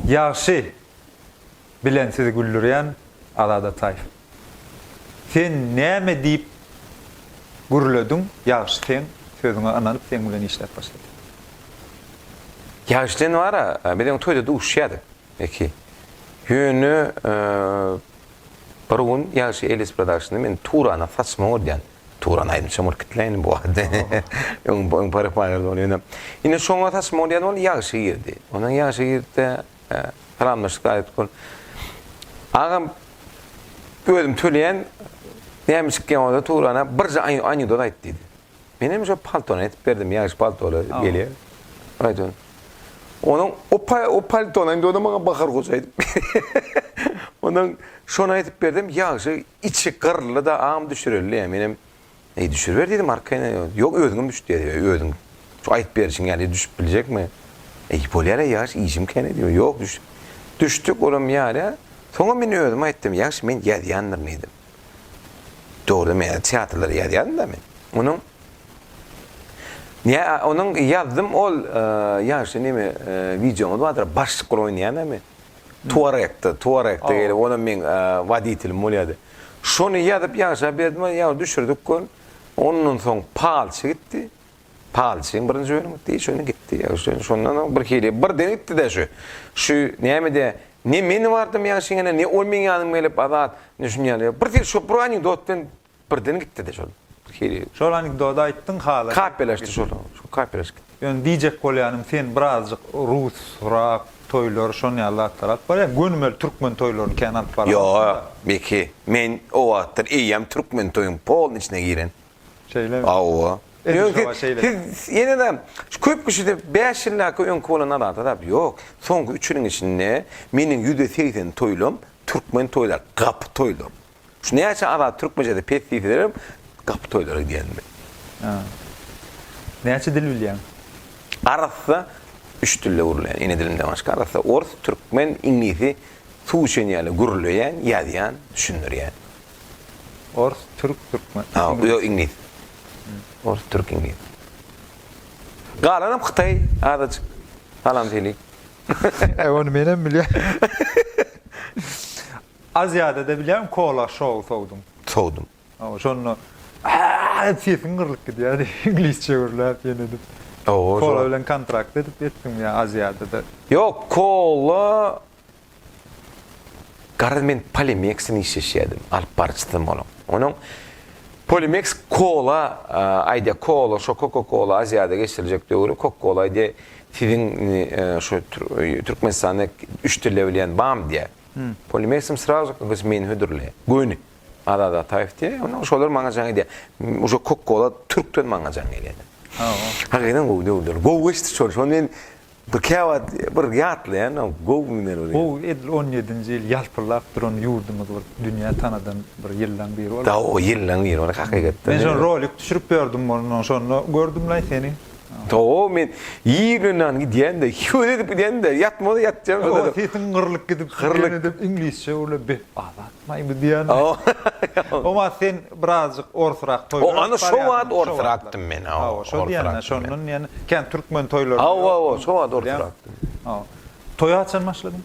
Ýagşy bilen sizi güldürýän Azat Ataýew. Sen näme diýip gürlediň Ýagşy seň sözüňe ynanyp seň bilen işläp başlady. Ýagşydan wara biz öň toýda duşýadyk. Eki. Ýöne bir gün ýagşy Elis Productiona men Turana saçma bolýan. Turan aýdymçam bolup gitmeýin bu wagt. Öň öň parykmaýardy ony ýöne. Ine şoňa saçma bolýan ol ýagşy girdi. Ondan ýagşy girdi-de salamlaşdyk aýdyp ol. Agam özüm töleýän näme çykýan bolsa Turana birje anekdot aýt diýdi. Menem şo paltony etip berdim, ýaş paltoly gelýär. Aýdýan. Onuň o o paltony indi ony maňa Bahar goja edip berýär. Ondan şony edip berdim, ýagşy içi gyrly-da, am düşürildi ýa. Menem, Eý, düşüriber diýdim, arkaýyn. Ýok, özüňem düş diýýär, ýa, özüň. Şu aýdyp berişiň ýaly düşüp biljekmi? Eý, bolýar-a, ýagşy, işim kän-ä diýdim. Ýok, düş. Düşdük, olam ýaly. Soňam men özüm aýtdym, ýagşy, men ýazýandyryn diýdim. Dogry men ýa teatrlary ýazýaryn da men. Onuň Ýa onuň ýazdym ol ýaşy neme wideoňyz bardyr başlyk bolup oýnaýan men. Tuarekde, tuarekde gelip onam meň woditelim bolýardy. Şony ýazyp ýaşa berdim ýa düşürdik gör. Ondan soň palçy gitdi. Palçyň birinji öni gitdi, şony gitdi. Şondan soň birhili birden gitdi-de şu. Şu näme-de, ne men bardym ýaňşyň ýanyna, ne ol meň ýanyma gelip, Azat, indi şuny ýaly. Birhili şu bir anekdot bilen birden gitdi-de şol. Birhili. Şol anekdody aýtdyň, halas. Kapelleşdi şol. Şol kapelleşip gitdi. Ýöne diýjek bolýanym, sen birazjyk rus, rock toýlary, şon ýaly zatlar alyp barýaň. Gönümel türkmen toýlaryny kän alyp barmalysyň-da. Ýok, Beki, men o wagtlar eýýäm türkmen toýuň polny içine giren. Şeýlemi? Hawa. Ýöne siz ýene-de şu köp kişide bäş ýyldaky öňki bolan alada zat ýok. Soňky üç ýylyň içinde meniň ýüzde segsen toýlam türkmen toýlar, gapy toýlar. Şu näçe alada türkmençesi pes diýselerem gapy toýlara gidýän men. Hä. Näçe dil bilýäň? Arassa üç dilde gürleýän. Ene dilimden başga arassa ors, türkmen, iňlisi suw içen ýaly gürleýän, ýazýan, düşündirýän. Ors, türk, türkmen, iňlis. Ýok, iňlis. Ors, türk, iňlis. Galanam hytaý azajyk. Galam hili. Äý ony menem bilýän. Aziýada-da bilýän kola şou sowdum. Sowdum. Hawa, şonda äý sesiň gyrlyp gidýär iňlisçe gürläp ýene edip. Kola bilen kontrakt edip etdim ýa Aziýada-da. Ýok, kola Garaz men Polimexden işleşýärdim, alyp baryjysym onuň. Onuň Polimex kola aýdýar, kola şo koka-kola Aziýada geçiriljek döwri koka-kola aýdýar, siziň şu Türkmenistanda üç dilde bilýän bam diýýär. Polimexim srazu ka gys meni hödürleýär. Göni. Azat Ataýew diýýär. Onda şolar maňa jaň edýär. Uje koka-kola türkden maňa jaň gelýär. Hakydan gowy döwürler. Gowy geçdi şol. Şony men Bir käwagt bir ýatlaýan gowy günler bolýar. Gowy edil on ýedinji ýyl ýalpyldap duran ýurdumyz bir dünýä tanadan bir ýyllaň biri bolupdy. Gowy ýyllaň biri bolupdy hakykatdan. Men şony rolik düşürip ýördüm mundan şonda gördümlaý seni. Gowy men ýer bilen nan gidýän-de, söwda edip gidýän-de, ýatmagy-da ýatjagym şonda. Sesiň gyrlyk gidip, ýene-de iňlisçe gürläp, be, Azat. Maýmyz diýýän. Oma sen birazjyk orsrak toýlar edip barýarsyň. Ana şo wagt orsrakdym men. Hawa, şo diýýän-ä, şondan diýen, kän türkmen toýlaryny. Hawa-hawa, şo wagt orsrakdym. Hawa. Toýa haçan başladyň?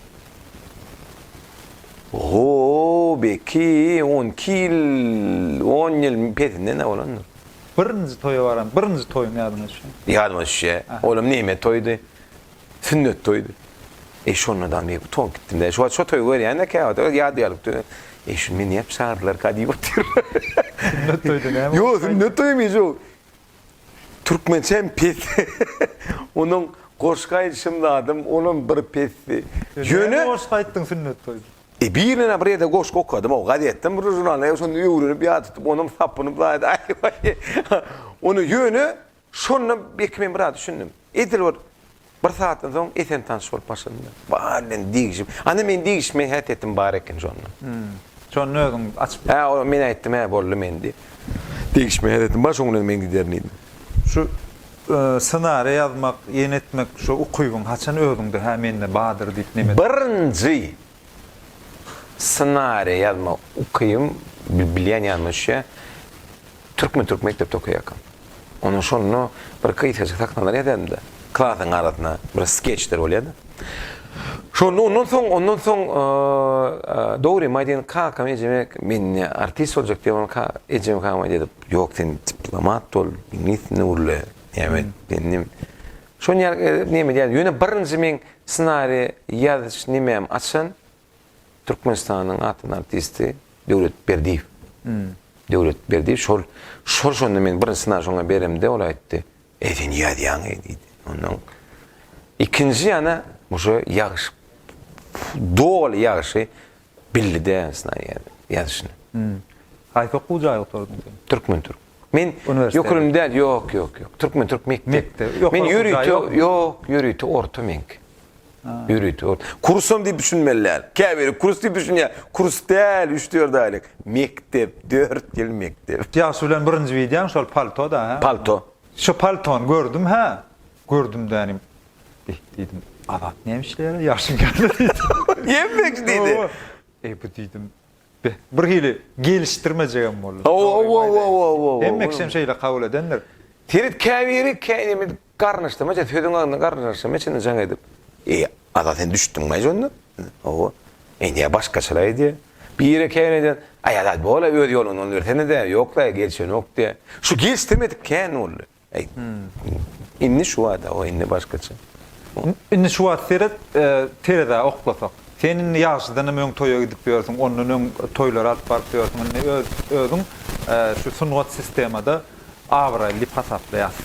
Ho, belki on iki ýyl, on ýyl pesindenem bolandyr. Birinji toýa baran, birinji toýuň ýadyňa düşenmi? Ýadyma düşýä. Olam neýme toýdy? Sünnet toýdy. Eý, şonda-da men utanip gitdim-de. Şo wagt şo toýy görýän-de käwagt, öz ýady galypdy. Eý, şuny men nädip çagyrdylarka diýip otyryn. Sünnet toýda näme bolsaýdy? Ýok, sünnet toýy men şo türkmençe hem pes. Onuň goşgy aýdyşym zadam olam bir pesdi. Ýöne Näme goşgy aýtdyň sünnet toýda? E, birine bir ýerde goşgy okadym, o gazetden bir žurnaldan, şonda öwrenip ýa tutup, onam sapynyp zaýady, aý-waý. Ony ýöne Şonda belki men biraz düşündim. Edil bir bir sagatdan soň Esen tanyş bolup başladym-da. Bar bilen degişip. Ana meň degişme häsiýetim bar eken şonda. Şonda özüň açyp. Hä, o men aýtdym, hä, boldy men diýip. Degişme häsiýetim bar, şoň bilen men giderin diýdim. Şu ssenariýa ýazmak, ýene etmek şu ukybyň haçan özüňde, hä, mende bardyr diýip nemes. Birinji Ssenariýa ýazma ukybyň bilýän ýanyma düşýä. Türkmen türk mekdepde okaýarkam. Onda şonda bir gysgajyk sahnalar ýazardym-da. Klasyň arasynda bir skeçler bolýardy. Şonda ondan soň, ondan soň dogry maý diýen kakam ejeme men indi artist boljak diýen bolan ka ejem kama diýdi. Ýok sen diplomat bol, iňlis dilini gurle. Ýa men indi Şony ýaly edip neme diýýär? Ýöne birinji meň ssenari ýazyş nimämi açan Türkmenistanyň atly artisti Döwlet Berdiýew. Döwlet Berdiýew şol şol şonda men birinji ssenari şoňa beremde ol aýtdy. Eý sen ýazýaň eý diýdi. Ondan ikinji ýana uje ýagyş doly ýagşy Belli däl snanýer ýazyşyny. Hum. Haýsy okuw jaýy gutardyň sen? Türkmen türk. Men ýokuryny däl ýok ýok ýok. Türkmen türk mekdep. Men ýörite ýok ýörite orta meňki. Ýörite orta. Kursam diýip düşünmeli däl. Käbiri kurs diýip düşünýär. Kurs däl üç dört aýlyk. Mekdep dört ýyl mekdep. Ýagşy bilen birinji wideoň şol paltoda hä? Palto. Şu paltony gördüm hä. Gördüm dänim. Eý, diýdim, Azat näme işleýär-ä, ýaşyň kämil diýdim. Gelmegi diýdi. Hawa. Eý, bu diýdim, be, bir hili gelişdirmejegem boldy. Hawa-hawa-hawa-hawa-hawa. Hemmeksem şeýle kabul edendir. Seýret, käbiri kä neme garnyşdyrmaýar, sözüň agzyna garnyşdyrmaýar içinden jaň edip. Eý, Azat, sen düşdüňmi-ä onda? Hawa. Indi-ä başgaçalar aýdýar. Biri kä nädýär, Aý, Azat, bol-a, öz ýoluňdan bersene-dä, ýok-la, gelişenok diýýär. Şu gelişdirmedik kän boldy. Aýt. Indi şu wagt hawa indi başgaça. Indi şu wagt seret terezä oklasak. Sen indi ýagşydanam öň toýa gidip ýörsüň, ondan öň toýlara alyp baryp ýörsüň. Indi öz özüň şu sungat sistemada abraýly diýip hasaplaýas.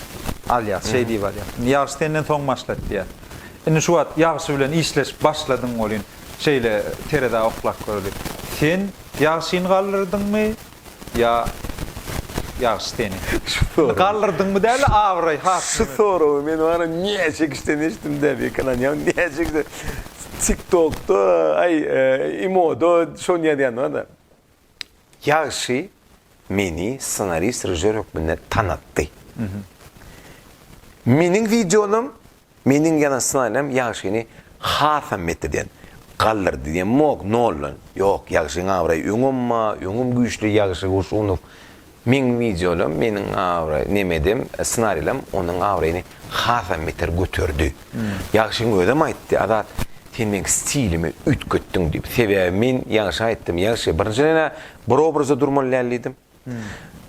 Alýas şeý diýip alýas. Indi ýagşy senden soň başlady diýýäs. Indi şu wagt ýagşy bilen işleşip başladyň welin şeýle terezä oklap göreli. Sen ýagşyny galdyrdyňmy, ýa ýagşy seni. Şu soragy. Galdyrdyňmy däli abraý hatyny. Şu soragy men wara näçe kişiden eşitdim däbi ýakalanýan näçe kişiden tik tokda aý imoda şony ýazýanlar da. Ýagşy meni ssenarist režissýor hökmünde tanatdy. Meniň wideonam Meniň ýazan ssenariýam Ýagşyny hasam metdeden, galdyrdy diýemok, noldan. Ýok, Ýagşyň abraýy öňem-a, öňem güýçli Ýagşy Gurşunow. Meň wideolam, meniň abraý, nemedem, ssenariýlam onuň abraýyny hasam beter göterdi. Ýagşyň özem aýtdy, Azat, sen meň stilimi üýtgetdiň diýip. Sebäbi men Ýagşa aýtdym, Ýagşy, birinjiden-ä bir obrazda durmaly däl diýdim.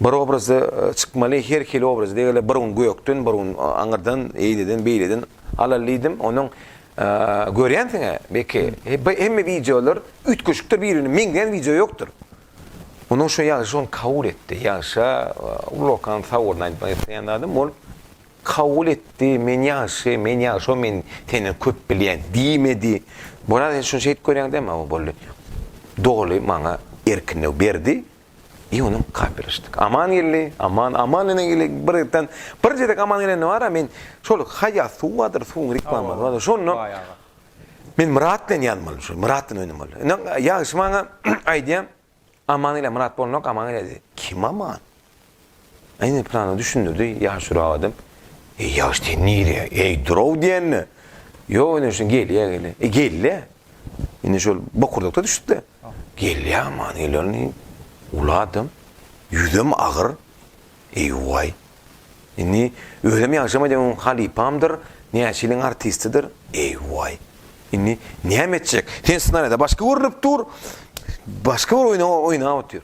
Bir obrazda çykmaly her hili obraz degeli bir gün gökden bir gün aňyrdan eýleden beýleden alaly diýdim onuň görýänsiňä beky hemme wideolar üýtgeşikdir bir birine meňzeýän wideo ýokdur onuň şu ýagşy şony kabul etdi ýagşa ullakan sag bolun aýtmak isleýän zadym ol kabul etdi men ýagşy men ýagşo men senden köp bilýän diýmedi bu raz sen şuny şeýdip görýäňdä maňa boldy doly maňa erkinlik berdi I onuň gapylaşdyk. Aman geldi. Aman, aman ene gele bir ýerden. Bir gezek aman gelende bar-a men şol haýýat suw bardyr, suwuň riklamady bar-a. Şonda men Myrat bilen ýan boldum. Şol Myrat bilen öňem boldy. Ine ýagşy maňa aýdýar, Aman ile Myrat bolnok, aman ile diýdi. Kim aman? Ine, pyrana düşündirdi, ýaşurak adam. Eý, ýaş, sen nirä? Eý, dur-ow diýende. Ýok, ine, şu gelýä, gelýä. E, gelýä. Indi şol bokurdakda düşüp-de. Gelýä, aman, gelýär. Uly adam, ýüzem agyr. Eý, waý. Indi özem ýagşam aýdýan, halypamdyr, näçe ýylyň artistidir. Eý, waý. Indi näme etjek? Sen ssenariýada başga görnüp dur, başga bir oýna oýnap otur.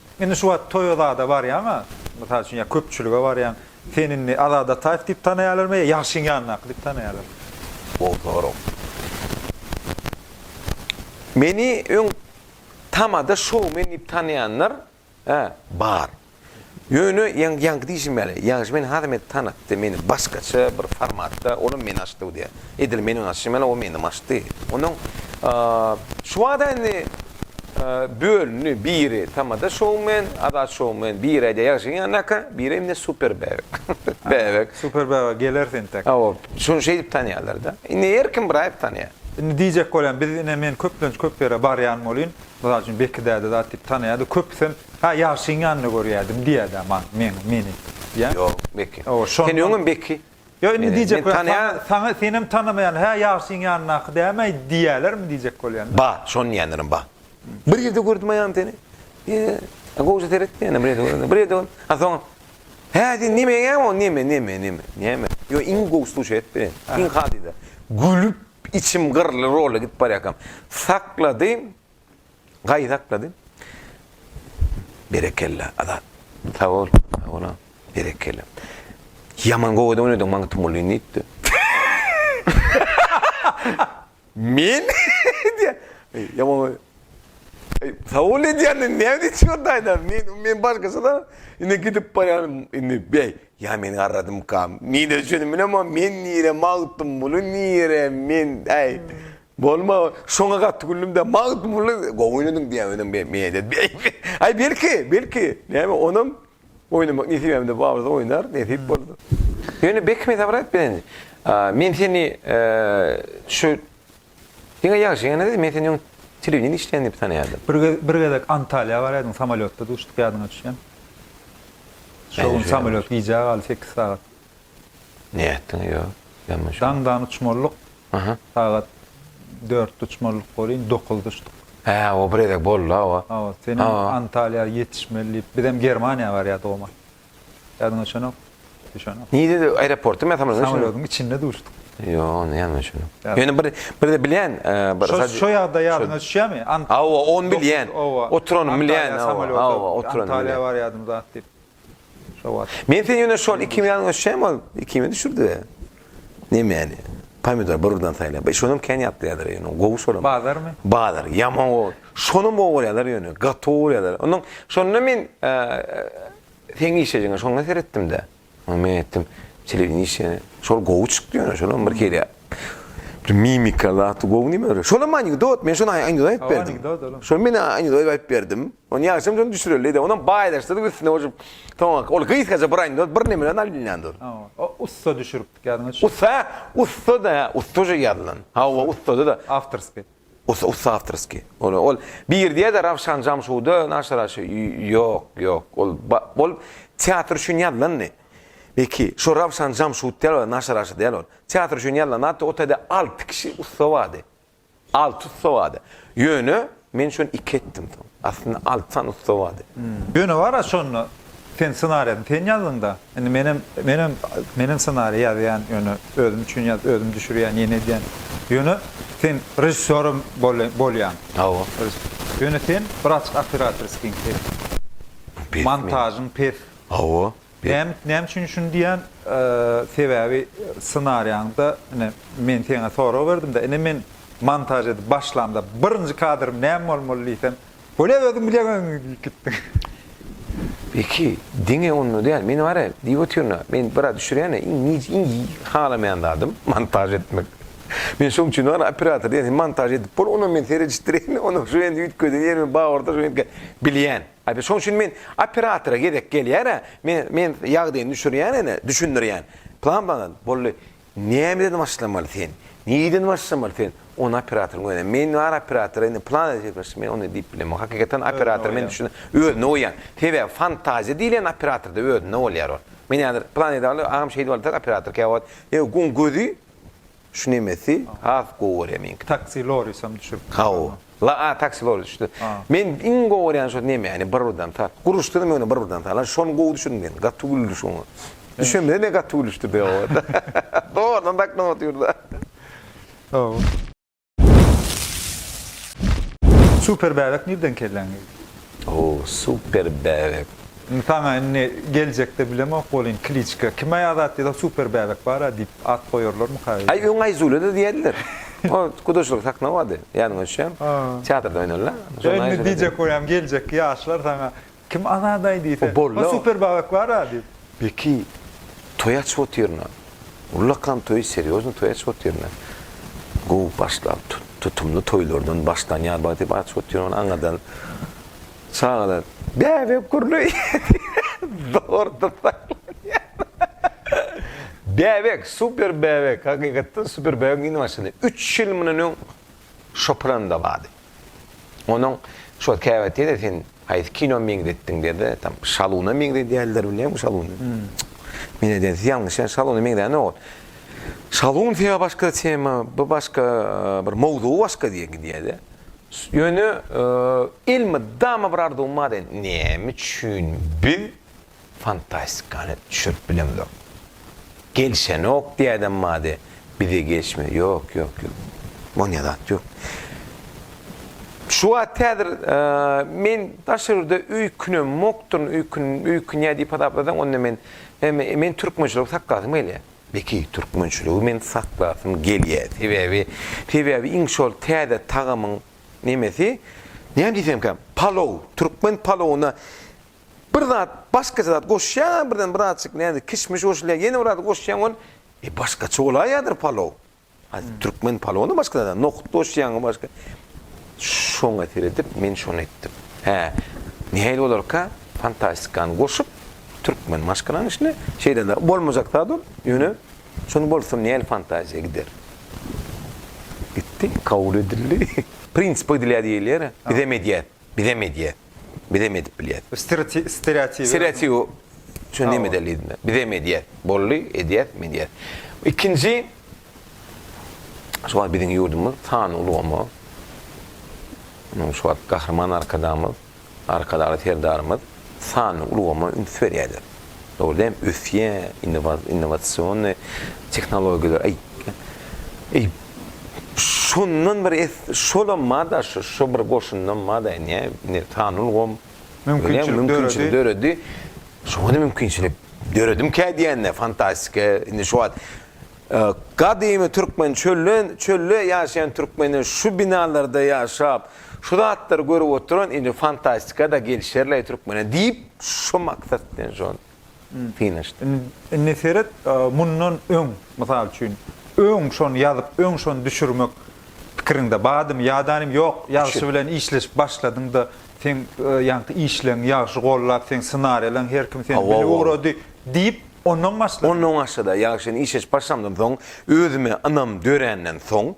Indi şu wagt toýa zada barýaň-a, mysal üçin, ýa köpçülige barýaň, seni indi Azat Ataýew diýip tanaýarlarmy ýa Ýagşyň ýanyndaky diýip tanaýarlar? Gowy sorag. Meni öň tamada şoumen diýip tanaýanlar, hä, bar. Ýöne ýaňky diýşim ýaly, Ýagşy meni has hem tanatdy, meni başgaça bir formatda, olam meni açdy bu diýä. Edil meniň açyşym ýaly o menem açdy. Onuň şu wagta indi bölündi biri tamada şoumen, azat şoumen, biri aýdýar ýagşyň ýanyndaky, biri indi super bäbek. Bäbek. Super bäbek gelersi entek. Hawa, şony şeýdip tanýarlar-da. Indi her kim bir aýyp tanýar. Indi diýjek bolýan, biz ine men köplenç köp ýere barýan bolýyn. Mysal üçin Beki däde zat diýip tanýardy. Köpüsem, Hä, ýagşyň ýanynda görýärdim diýýärdi-ä maňa, meni diýýän. Ýok, Beki. Sen öňem Beki. Ýa indi diýjek bolýan, saňa, senem tanamaýan, hä, ýagşyň ýanyndaky dämi-aý diýerlermi diýjek bolýan-da. Ba, şony diýenlerim ba. Bir ýerde gördüm aýam seni. Ýe, gowja seret diýen, bir ýerde gördüm. Bir ýerde gördüm. A soň, hä, sen neme eýäň o, neme, neme, neme, neme. Ýo, iň gowy suşi et beren, iň hadyda. Gülüp, içim gyrly rola gidip barýarkam, sakladym, Gaýdaklady. Berekella Azat. Sag bol. Sag bol agam. Berekella. Ýaman gowy da oýnadyň Magtymguly diýipdi. Men diýýä. Ýaman. Sag bol diýýän näme diýip çykardaýda. Men men başgaça da indi gidip barýan indi beý. Ýa meni garradymkam. Men öçen bilemok. Men nire Magtymguly nire men äý. Bolma, şoňa gaty güldüm-de, Magtymguly gowy oýnadyň diýýän özüň be, meýedit. Aý, belki, belki, näme, onam oýnamak nesibemde bardy, oýnar, nesip bolsa. Ýöne Bekheme sabyr aýt bilen, men seni şu diňe ýagşy ýanynda, men seni öň telewideniýede işleýän diýip tanaýardym. Bir gez, bir gezek Antalýa barýardyň, samolýotda duşduk, ýadyňa düşýärmi? Şo gün samolýot gijä galdy, sekiz sagat. Nätdiň ýa men muny şonda. Daňdan uçmalyk sagat dörtde uçmalyk welin dokuzda uçduk. Hä o bir gezek boldy hawa. Hawa sen Antaliýa ýetişmeli diýip bizem Germaniýa barýardyk o mahaly. Ýadyňa düşenok? Düşenok. Nirede aeroportda men samolýodyň içinde. Samolýodyň içinde duşduk. Ýo onda ýadyma düşenok. Ýöne bir birde bilýän bir sadje. Şo ýagdaý ýadyňa düşýärmi? Hawa ony bilýän. Oturanymy bilýän. Hawa oturanymy bilýän. Antaliýa barýardyň zat diýip. Men sen ýöne şol iki kimyýanyň öçem ol iki kimýa düşürdi. Nemäni? Pomidor bir birden saýlap. E şonam kän ýatlaýarlar ýöne gowy şolam. Bazarmy? Bazar ýaman gowy. Şonam gowy bolýarlar ýöne gaty gowy bolýarlar. Ondan şonda men seň işejiňe şonda seretdim-de. Ondan men aýtdym, telewideniýe işe. Şol gowy çykdy ýöne şolam bir kere. Bir mimika zat gowy nime öre. Şolam anekdot, men şony anekdot aýdyp berdim. Anekdot olam. Şony men anekdot aýdyp berdim. Ony ýagşam şony düşüreli-de, onam baýlaşdyryp üstüne goşup, soňaky ol gysgaça bir anekdot, bir neme bilen alynýan dur. Hawa, o ussa düşüripdik ýadyňa düşer. Ussa, ussa-da, ussa şo ýazylan. Hawa, ussada-da. Awtorskiý. Ussa, ussa awtorskiý. Ol, ol bir diýer-de Rawşan Jamşuda naşyra şo, ýok, ýok, ol, ol teatr üçin ýazylandy. Beki, şo Rawşan jam şut däl ol, naşa raşa däl ol. Teatr üçin ýallanapdy, o taýda alty kişi ussa bardy. Alty ussa bardy. Ýöne, men şony iki etdim soň. Aslynda alty sany ussa bardy. Ýöne bar-a şonda, sen ssenariýany sen ýazdyň-da. Indi menem, menem, menem ssenariý ýazýan, ýöne özüm üçin ýazyp, özüm düşürýän, ýene edýän. Ýöne, sen režissýoram bole, bolýaň. Hawa. Ýöne sen bir açyk operatorskiň pes. Montažyň pes. Hawa, Bäm näme üçin şuny diýýän? Sebäbi ssenariýaňda ine men seňe sorag berdimde, ine men montaž edip başlamda birinji kadrym näme bolmaly diýsem, Bolýa özüň bilýäňiň diýip gitdiň. Beki, diňe onda däl, men bar-a diýip otyryn-a, men biraz düşürýän-ä, iň nij iň halamaýan zadym montaž etmek. Men şoň üçin bar-a operator diýýän, sen montaž edip bol, onam men seredişdireýin, onam şu ýerini üýtgedin, ýerimi bagyrdar, şu ýerimi bilýän. Aýby şoň üçin men operatora gezek gelýär-ä, men, men ýagdaýyny düşürýän ene, düşündirýän. Plan bagal, boldy. Nämeden başlamaly sen? Nireden başlamaly sen? Ony operatoryň özüne. Men bar operatora indi plan edip ýetmezçi, men ony diýip bilemok. Hakykatan operator men düşün, özüne goýýan. Sebäbi fantaziýa diýlen operatorda özünde bolýar ol. Men häzir plan edip, agam şeýdip alsak operator käwagt, ýa oň gözi, Şu nemesi has gowy görýän meňki. Taksi Lorisem düşüp. Haw. La a taksi loris düşdi. Men iň gowy görýän şo nemeni bir birden sal. Guruşdyram ýöne bir birden sal. Şony gowy düşün diýen. Gaty güldi şoňa. Düşemde ne gaty gülüşdi be o. Dogrudan da aklym otyr da. Haw. Super bäbek nirden kelläňe. O super bäbek. Indi saňa indi geljekde bilemok welin kliçka kime ýazat ýazak super bäbek bara diýip at goýarlarmyka öýde. Aý öň Aýzulede diýerdiler. O gudaçylyk sahna bady. Ýanyň öçýän. Teatrda oýnala. Şonda Aýzulede. Indi diýjek bolýam geljekki ýaşlar saňa kim Azadaý diýse. O super bäbek bara diýip. Beki toý açyp otyrna. Ullakan toýy serýozny toý açyp otyrna. Gowy başlap tutumly toýlardan başlanýar ba diýip açyp otyryn ony aňyrdan çagalar bäbek gürleýär zordan saýlanýar. Bäbek super bäbek hakykatdan super bäbek indi başlady. Üç ýyl mundan öň şopuranda bardy. Onuň şo käbä tede sen haýsy kino meňzetdiň dede tam şaluna meňzedýärler bilýäňmi şaluna. Men edýän siz ýalňyş ýa şaluna meňzänok. Şalun sebä başga tema bu başga bir mowzugy başga diýe gidýäde. Ýöne elmydama bir arzuwym bar eden näme üçin biz Fantastikany düşürip bilemzok. Gelişenok diýäýdem bady bize geçmedi. Ýok, ýok, ýok. Bolýan zat ýok. Şu wagt häzir men daş ýurda öý künem mokduryn, öý kün, öý künýä diýip hasaplasaň, onda men, men, men türkmençiligi saklasym gelýä. Beki, türkmençiligi men saklasym gelýä. Sebäbi, sebäbi iň şol täze tagamyň nemesi, näme diýsemkä, palow, türkmen palowyna Bir zat, başgaça zat goşýaň-a birden bir azajyk näzik kişmiş goşulýar, ýene bir zat goşýaň ol, e, başgaça bolaýýadyr palow. A türkmen palowynda başga zat-a, nohut goşýaň-a başga. Şoňa seredip, men şony etdim. Hä, nähili bolarka, fantastikany goşup, türkmen maşgalanyň içine, şeýle-de bolmajak zat ol, ýöne şony bolsa nähili fantaziýa gider. Gitdi, kabul edildi. Prinsipe gidilýär diýilýär-ä, bizem edýäs. Bizem edýäs. Bizem edip bilýäs. Stereotipi. Stereotipi. Şuny näme edeli diýdiňiz? Bizem edýäs. Boldy, edýäs, medýäs. Ikinji, şu wagt biziň ýurdumyz sanly ulgama, şu wagt Gahryman Arkadagymyz, Arkadagly Serdarymyz, sanly ulgama üns berýärler. Dogry däl, ösýär, innowasionnyý tehnologiýalar, eý, eý, şondan bir es, şolam bar-da, şu, şu bir goşundam bar-da, ine, ine, sanly ulgam, görýäňmi, mümkinçilik döredi, şoňa-da mümkinçilik döredimkä diýende, fantastika, indi şu wagt, Gadymy türkmen çölden, çölde ýaşaýan türkmenden şu binalarda ýaşap, şu zatlary görüp oturan indi fantastika-da gelişerleý türkmene diýip, şu maksat bilen şony synanyşdyk. Indi seret, mundan öň, mysal üçin, öň şony ýazyp, öň şony düşürmek pikiriňde bardymy? Ýadanym ýok, ýagşy bilen işleşip başladyň-da, Seň ýaňky işleň ýagşy gollap seň ssenariýalaň her kim seni bilip ugrady diýip ondan başla. Ondan başlada ýa şeýle iş eşip başlamdan soň özüme ynam döränden soň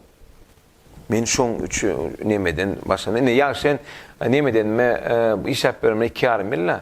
men şoň üçin nemeden başlanda indi ýa şen nemedenme işläp ýöremine iki ýarym ýyl-la.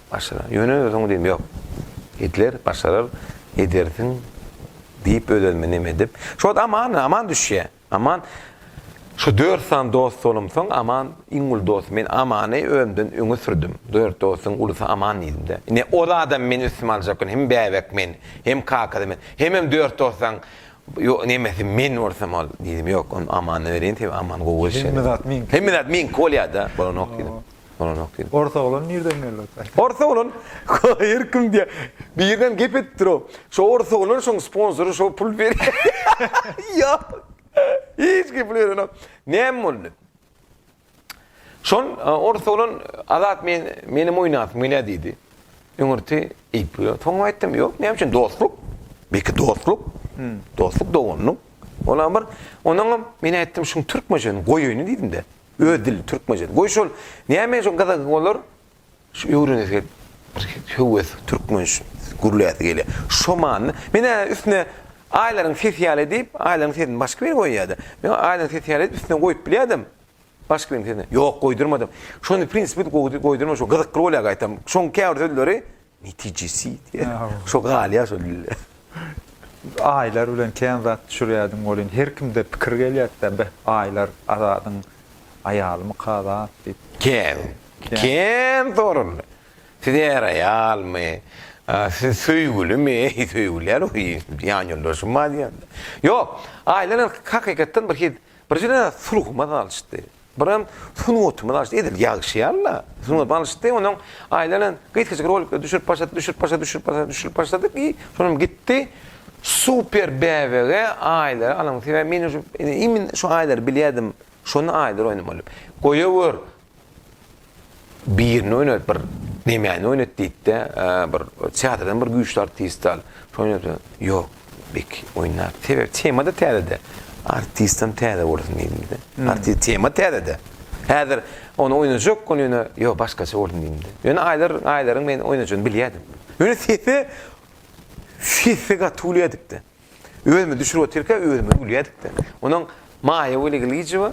Başarar. Ýöne özüň diýdim, ýok. Gitler başarar, edersiň diýip öz-özüme neme edip. Şu wagt Aman, Aman düşýä. Aman Şu dört sany dost bolumsoň Aman iň uly dostum. Men Amany özümden öňe sürdüm. Dört dostuň ulusy Aman diýdim-de. Ine ol adam meni üstüme aljak gün hem bäbek men, hem kakasy men, hemem dört dostaň nemesi men bolsam ol. Diýdim, ýok, ony Amana bereýin, sebäbi Aman gowy gelşen. Hemme zat meňki. Hemme zat meňki bolýa-da, bolanok diýdim. bolanok diýdim. Ors oglan nirden geldi ota? Ors oglan her kim diýe birden gep edip dur o. Şo ors oglan şoň sponsory şo pul berýär. Ýok. Hiç kim pul berenok. Näme boldy? Şon ors oglan Azat men menem oýnasym gelýär diýdi. Öňürti iýip ýör. Soňra aýtdym, ýok näme üçin dostluk. Belki dostluk. Dostluk doganlyk. Olam bir. Onuňam men aýtdym şuň türkmençesini goýaýyny diýdim-de. Öz dili türkmençe. Goý şol näme şo gyza olar şu öwrenesi gelip bir höwes türkmençe gürläsi gelýär. Şo manyda men ä üstüne Aýlaryň sesi ýaly diýip, Aýlaryň sesini başga biri goýýada. Men Aýlaryň sesi ýaly üstüne goýup bilýädim. Başga biri sesi. Ýok, goýdurmadym. Şony prinsipi goýdurma şo gyzykly bolýar gaýtam. Şoň käbir sözleri Netijesi diýen. Şo galýar şo dilde. Aýlar bilen kän zat düşürýärdim welin, her kimde pikir gelýärdi-dä, beh, Aýlar Azadyň aýalymyka zat diýip. Kän, kän soraldy. Siz är-aýalmy? Siz söýgülimi? Söýgülýär we ýanýoldaşym bar diýýärdi. Ýok, Aýlar haky-hakykatdan bir hil, bir juda sulhumaz alçdy. Birem sungatymyz alşdy. Edil ýagşyýan-la. Sungatymyz alşdy. Onuň aýlanan gysgajyk rolikleri düşürip başladyk, düşürip başladyk, düşürip başladyk, düşürip başladyk i şonam gitdi. Super bäbege aýlary alyň. Sebäbi men indi imin şu aýlary bilýärdim. Şonda aýlar oýnamaly. Goýawör. Birini oýnat bir nemäni oýnat diýdi-de, bir teatrdan bir güýçli artist al. Şoýnady. Ýok, beki oýnap. Sebäbi tema-da täze-de. Artistam täze bolsun diýdim-de. Artist tema täze-de. Häzir ony oýnajak, ony ýöne ýok, başgaça bolsun diýdim-de. Ýöne aýlar, aýlaryň men oýnajagyny bilýärdim. Ýöne sesi, sesi gaty uly edipdi. Özümi düşürip otyrka özüme gülýädikde. Onuň Maýa Weli Gilijewa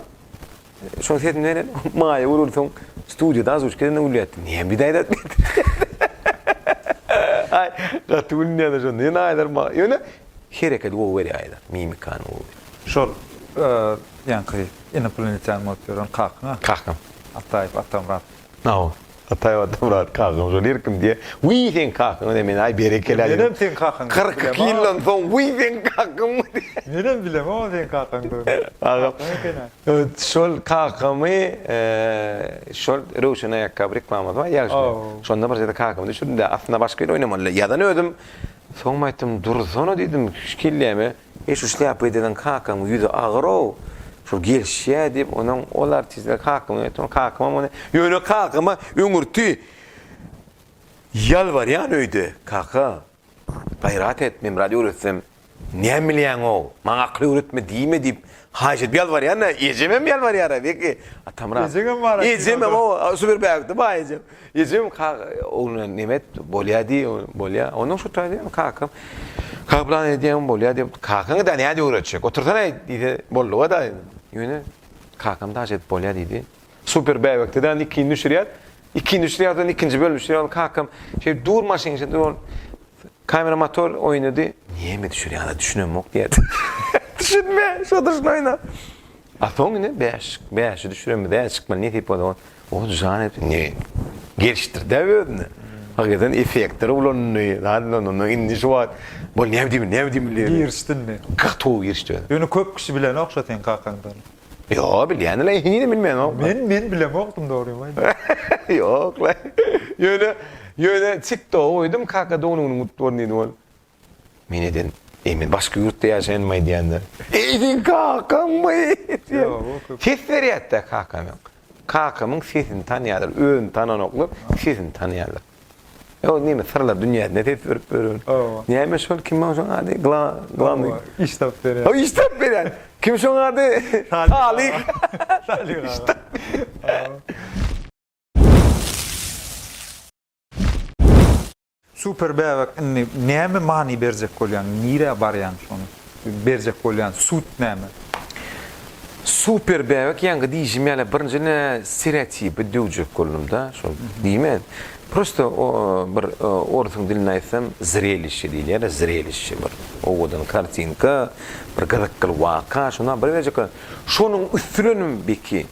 şoň sesini beren Maýa Weli soň studiýada azuç gelende gülýädi. Niýe bir aýdat diýdi. Ay, gaty gülýädi şonda. Ýöne aýdar ma. Ýöne hereketi gowy berýär aýdar. Mimikany gowy. Şol ýaňky inoplanetan bolup ýören kakyň-a? Kakam. Ataýew Atamyrat. Aw, Ataýew Atamyrat kakaň şol ýeri kim diýýär. Wiý, seň kakaňa diýýär. Men-aý, berekella diýdim. Menem seň kakaň. Kyrk iki ýyldan soň, wiý, seň kakaňmy diýýär. Menem bilemok onuň seň kakaňdygyny. Kakaň eken-ä. Şol kakamy, şol Röwşen aýakgaby reklamasy bar ýaşulyň. Şonda bir sede kakamy düşürdim-de, aslynda başga ýerde oýnamalydy. Ýazan özüm. Soňam aýtdym, Dursana diýdim, hiç gelýämi? Eý şu şlýapa edeniň kakaň ýüzi agyrow, şol gelişýä diýip, onuň ol artistler kakama öýtdi, onuň kakamam ony, ýöne kakama öňürti ýalbarýan öýde, kaka, gaýrat et, men biraz öwretsem, näme bilýäňow, maňa akyl öwretme diýme diýip, haýyş edip ýalbarýan-a, ejemem ýalbarýar-a, belki, atamrak. Ejeňem bar-a. Ejemem, oba, şu bir bägütde bar ejem. Ejem kak ogluna neme et, bolýa diý, bolýa. Ondan şu taýda ýöne kakam Kablan edýäň bolýa diýip, kakaň da nädip öwretjek. Otursana diýse bolduga da. Ýöne kakam daş edip bolýa diýdi. Super bäbekde de ikini düşürýär. Ikini düşürýär de ikinji bölüm düşürýär. Kakam şeýdip dur maşyn şeýdip ol kamera motor oýnady. Neme düşürýäňä düşünemok diýýärdi. Düşünme, şo durşuna oýna. A soň ine bäş, bäşi düşüremizä çykmaly nesip bolsa ol. Ol jan edip indi gelişdirdi özüne. Hakykatdan effektleri ulandy. Zat bilen onda indi şu wagt bol näme diýmeli, näme diýmeli diýip. Girişdi indi. Gatuw girişdi özem. Ýöne köp kişi bilenok şo seň kakaňdy ony. Ýok, bilýändirler, henizem bilmänok. Men, men bilemokdym dogrymy aýdýan. Ýok-la. Ýöne, ýöne TikToga goýdum, Kaka dognuňyň gutly bolsun diýdim ol. Men eden, Eý, men başga ýurtda ýaşaýanym aýdýan-da. Eý, seň kakammy? diýýän. Ses berýär-de kakama. Kakamyň sesini tanýarlar, özüni tananoklar, sesini tanýarlar. Ýa ol näme, syrlar dünýäsine ses berip ýören. Näme şol, kim ol şoň ady? Gla, glawnyý. Iş tapyp berýän. Hawa, iş tapyp berýän. Kim şoň ady? Talyk. Talyk aga. Super bäbek indi näme many berjek bolýaň nirä barýaň şony berjek bolýan sud näme. Super bäbek ýaňky diýişim ýaly birinji ne stereotipi döwjek boldumda şol diýmen prosta o bir orsuň dilinde aýtsam zrelişe diýilýärä zrelişe bir owadan kartinka bir gyzykly waka şony habar berjek bolan şonuň üstünenem beki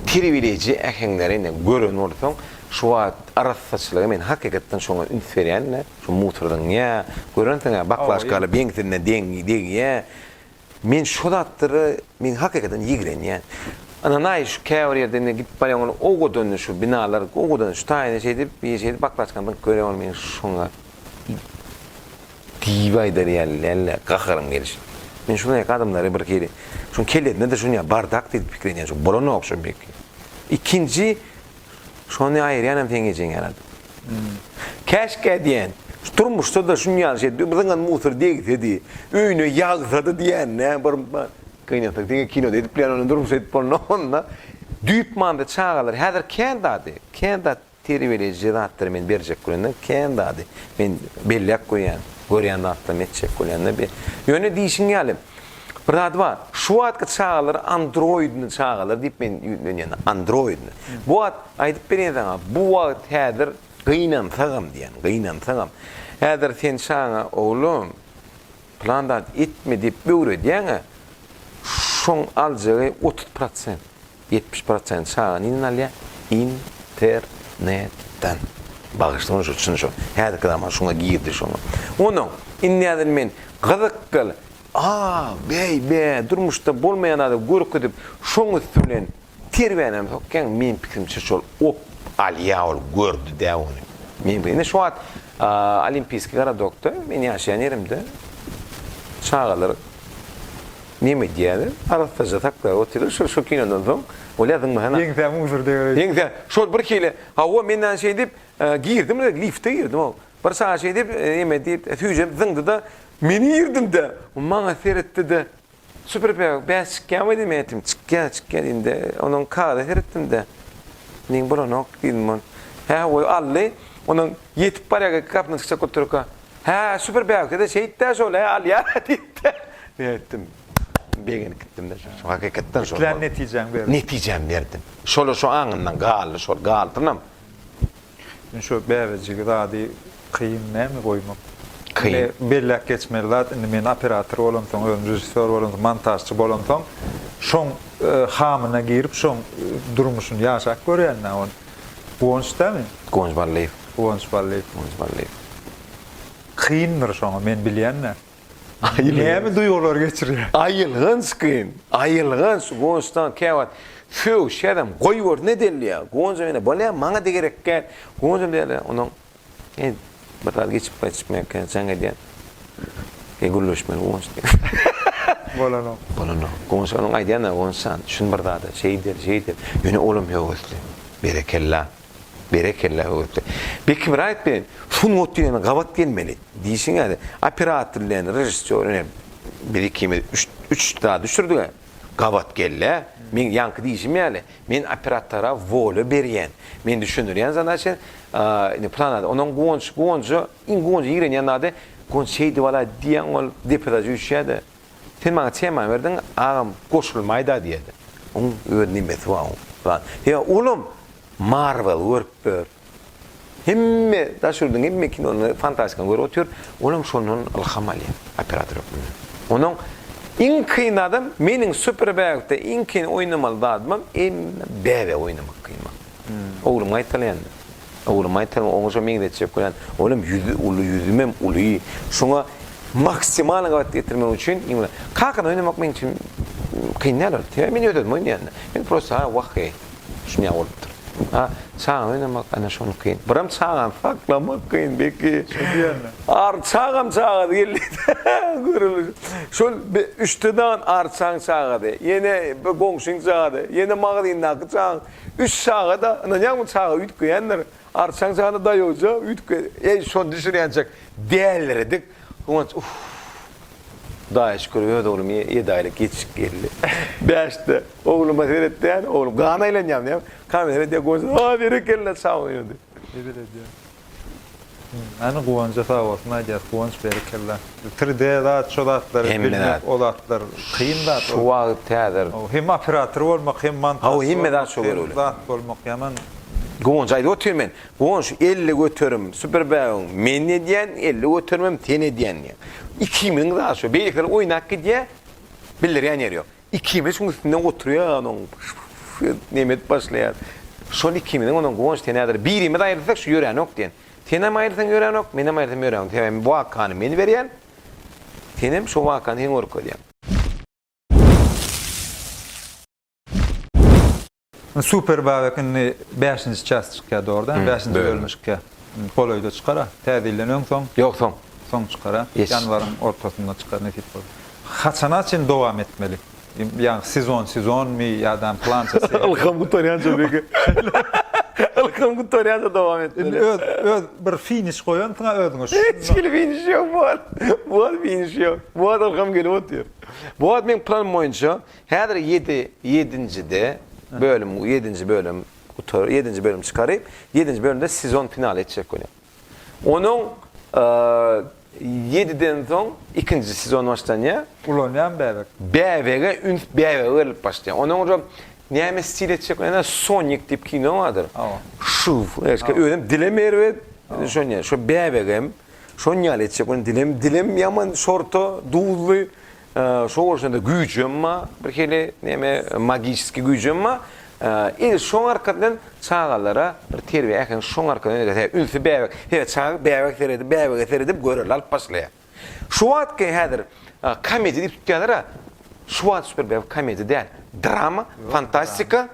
terbiýeleýji äheňleri indi gören bolsaň Şu wagt arassaçylygy men hakykatdan şoňa üns berýän-de, şu mutrzyňňa, görensiň-ä baklažkaly beňsine degýä. Men şo zatlara men hakykatdan ýigrenýän. Ynanaý şu käbir ýerde indi gidip barýaň ol owadan şu binalar owadan şu taýyny şeýdip bir şeýdip baklažkany zyňyp görýän ol meň şoňa diýip aýdar ýaly-le gaharym gelişip. Men şuny ýaky adamlary bir hili şuň kellesinde-de şuny ýaly bardak diýip pikir edýän şu bolanok şu beki. Ikinji Şony aýyrýanam seň ejeň ýaradym. Käşgä diýen, şu durmuşda-da şuny ýaly şey, biziňem musor degsedi, öýüne ýagsady diýende, bir gynansak, diňe kinoda edip bilen ony durmuşda edip bolna onda. Düýp manyda çagalar häzir kän zady, kän zat terbiýeleýji zatlary men berjek bolanda, kän zady men belläp goýýan, görýän zatlarymy etjek bolanda bir. Ýöne diýşiň ýaly, Bir zat bar. Şu wagtky çagalar androidni çagalar diýip men ýüzlenýän. Androidni. Bu wagt aýdyp berýän saňa, bu wagt häzir gynansagam diýýän, gynansagam. Häzir sen çagaňa, oglum, pylan zat etme diýip öwredýäň-ä, şoň aljagy otuz prosent, ýetmiş prosent çaga nirden alýar? Internetden. Bagyşlaň şo çyn şo. Häzirki zaman şoňa girdi şoňa. Onnoň, indi häzir men gyzyk gyl Aa, bäý, bä, durmuşda bolmaýan zady görkezip, şoň üsti bilen terbänem sokýaň, meň pikirimçe şol op, Alýa ol gördi-dä ony. Meň indi şu wagt Olimpiýskiý garadokda, men ýaşaýan ýerimde çagalar neme edýär, arassaja saklap otyrlar, şol şu kinodan soň, Olýa zyňmasana. Ýeňsämi usurdy. Ýeňsä, şol birhili, hawa, men näme şeýdip, girdim, lifte girdim, hawa. Bir sagat şeýdip, ýemedi, süýjüp zyňdy-da, meni irdindi. Maňa seretdi-de, Süpürip-ä, bäş çykýamy diýdim, etim. Çykýa, çykýa diýdi. Onuň kagyza seretdim-de, Meň bolanok diýdim ol. Hä, goý, aldy. Onuň ýetip barýarka iki gapyny çykjak bolup durka, Hä, Süpür bägüsede şeýt-dä şol-ä, alýa diýdi-de. Men aýtdym, Begenip gitdim-de, şo hakykatdan şol boldy. Islen netijäňi berdiň. Netijämi berdim. Şol-a şo aňymdan galdy, şol galpynam. Indi şo bäbejigi zady kyn näme goýmak. Indi belläp geçmeli zat indi men operator bolamsoň özüm režissýor bolamsoň montažçy bolamsoň şoň hamyna girip şoň durmuşyny ýaşap görýän da ony. Guwanç dämi? Guwanç Ballyýew. Guwanç Ballyýew. Guwanç Ballyýew. Kyndyr şoňa men bilýän dä. Näme duýgular geçirýär? Aýylganç gyn, aýylganç, Gonçdan käwagt Söw, şerem, goýber, ne dellýär? Gonjam ýene, Bolýa, maňa-da gerek däl. Gonjam diýýär-le, Onuň, e, bir zat geçip gaýtjak mäkäm, jaň edýän. E, gürleşmeli Gonç diýýär. Bolanok. Bolanok. Gonç onuň aýdýan-a, Gonç jan, düşün bir zada, şeýder, şeýder. Ýöne olam höwesli. Berekella. Berekella höwesli. Bekim raýat bilen sungat diýen gabat gelmeli. Diýşiň ýaly operator bilen režissýor ine biz ikimiz üç üç zat düşürdiga gabat gelle. Meň ýaňky diýşim ýaly men operatora wolýa berýän. Men düşündirýän zadaçany a indi plan zat ondan guwanç guwanja iň guwanja ýigrenýän zady guwanç şeýdip alaý diýýän ol depede jüýşýäde Sen maňa tema berdiň agam goşulmaýda diýeli. Oň öz nimesi bar oň zat. Ýa olam Marvel görüp dur. Hemme daş ýurduň hemme kinony fantastikany görüp otyr. Olam şondan ylham alýa operator hökmünde. Onuň iň kyn zadam meniň super bägde iň kyn oýnamaly zadymam emme bäbe oýnamak kyn maňa. Oglum gaýtalaýanda. Oglumy aýtsaň oňa şo meňzetjek bolýan. Olam ýüzi uly ýüzümem uly. Şoňa maksimal gabat getirmek üçin iň bir Kakany oýnamak meň üçin kyn däl ol. Sebäbi men öz özümi oýnaýan-da. Men prosta ha wah heý. Şunýa bolupdyr. A çagany oýnamak ana şony kyn. Biram çagany saklamak kyn beki. Şo diýenle. Ar çagam çagasy geldi. Görüliş. Şol be üçde dan arçaň çagasy. Ýene bir goňşyň çagasy. Ýene magazyndaky çagaň. Üç çaga-da, ynanýaňmy, çaga üýtgeýändir. Arçaň jany daýawja üýtgedi. Eý, şony düşürýänçäk däldiredik. Guwanç, Uff. Hudaýa şükür, öz oglum ýedi aýlyk ýetişip geldi. Bäşde. Ogluma seretýän, oglum gan aýlanýarmyýam? Gan seretýär, Guwanç, Aý, berekella, çaga oýnady. Begel edýär. Näme Guwanja sag bolsun aýdýas Guwanç berekella. Tri D zat şo zatlar Hemme zat. bilmek o zatlar kyn zat Şu ol. wagt häzir Hawa hem operator bolmak hem Hawa, montažçy hemme zat bolmak şo hem görogly. zat bolmak ýaman. Guwanç aýdyp otyr men. Guwanç elli göterim super bägüň men edýän elli göterimem sen edýän diýýän. Ikimiziň zat şo beýlekiler oýnap gidýär bildirýän ýeri ýok. Ikimiz şuň üstünde oturýan oň neme edip başlaýar. Şol ikimiziň ondan Guwanç sen häzir birimiz aýrylsak şu ýöränok diýen. Senem aýrylsaň ýöränok, menem aýrylsam ýöränok. Sebäbi bu wakany men berýän. Senem şo wakany sen görkezýäň. Super Babek indi bäşinji çäst çykýa dogrudan bäşinji bölüm çykýa. Golaýda çykara. Täze ýyldan öň soň. Ýok soň. Soň çykara. Ýanwaryň ortasynda çykar nesip bolsa. Haçana çyn dowam etmeli? Ýagny sezon sezonmy ýadam plançasy. Ylham gutarýança belki. Ylham gutarýança dowam etmeli. Indi öz öz bir finiş goýansyňa özüňe şun. Hiç hili finiş ýok bu wagt. Bu wagt finiş ýok. Bu wagt ylham gelip otyr. Bu wagt meň planym boýunça Häzir ýedi ýedinjide bölüm ýedinji bölüm gutar ýedinji bölüm çykaryp ýedinji bölümde sezon finaly etjek göni onuň ýediden soň ikinji sezon başlanýar. Ulanýan bäbek. Bäbege üns bäbege berilip başlaýar onuň ujam näme stil etjek göni sonik diýip kino bardyr şuw eşke özem dilem erbet şonýa şo bäbegem şonýaly etjek göni dilem dilem ýaman şorta duzly Şo bolşunda güýjem ba, birhili neme magiski güýjem ba, il şoň arkasyndan çagalara bir terbiýe äheňi şoň arkadan öýredýär. Hä, ünsi bäbek. Hä, çaga bäbek seredip, bäbege seredip görelde alyp başlaýar. Şu wagtky häzir komediýa diýip tutýarlar-a, şu wagt şu bir bäbek komediýa däl, drama, fantastika,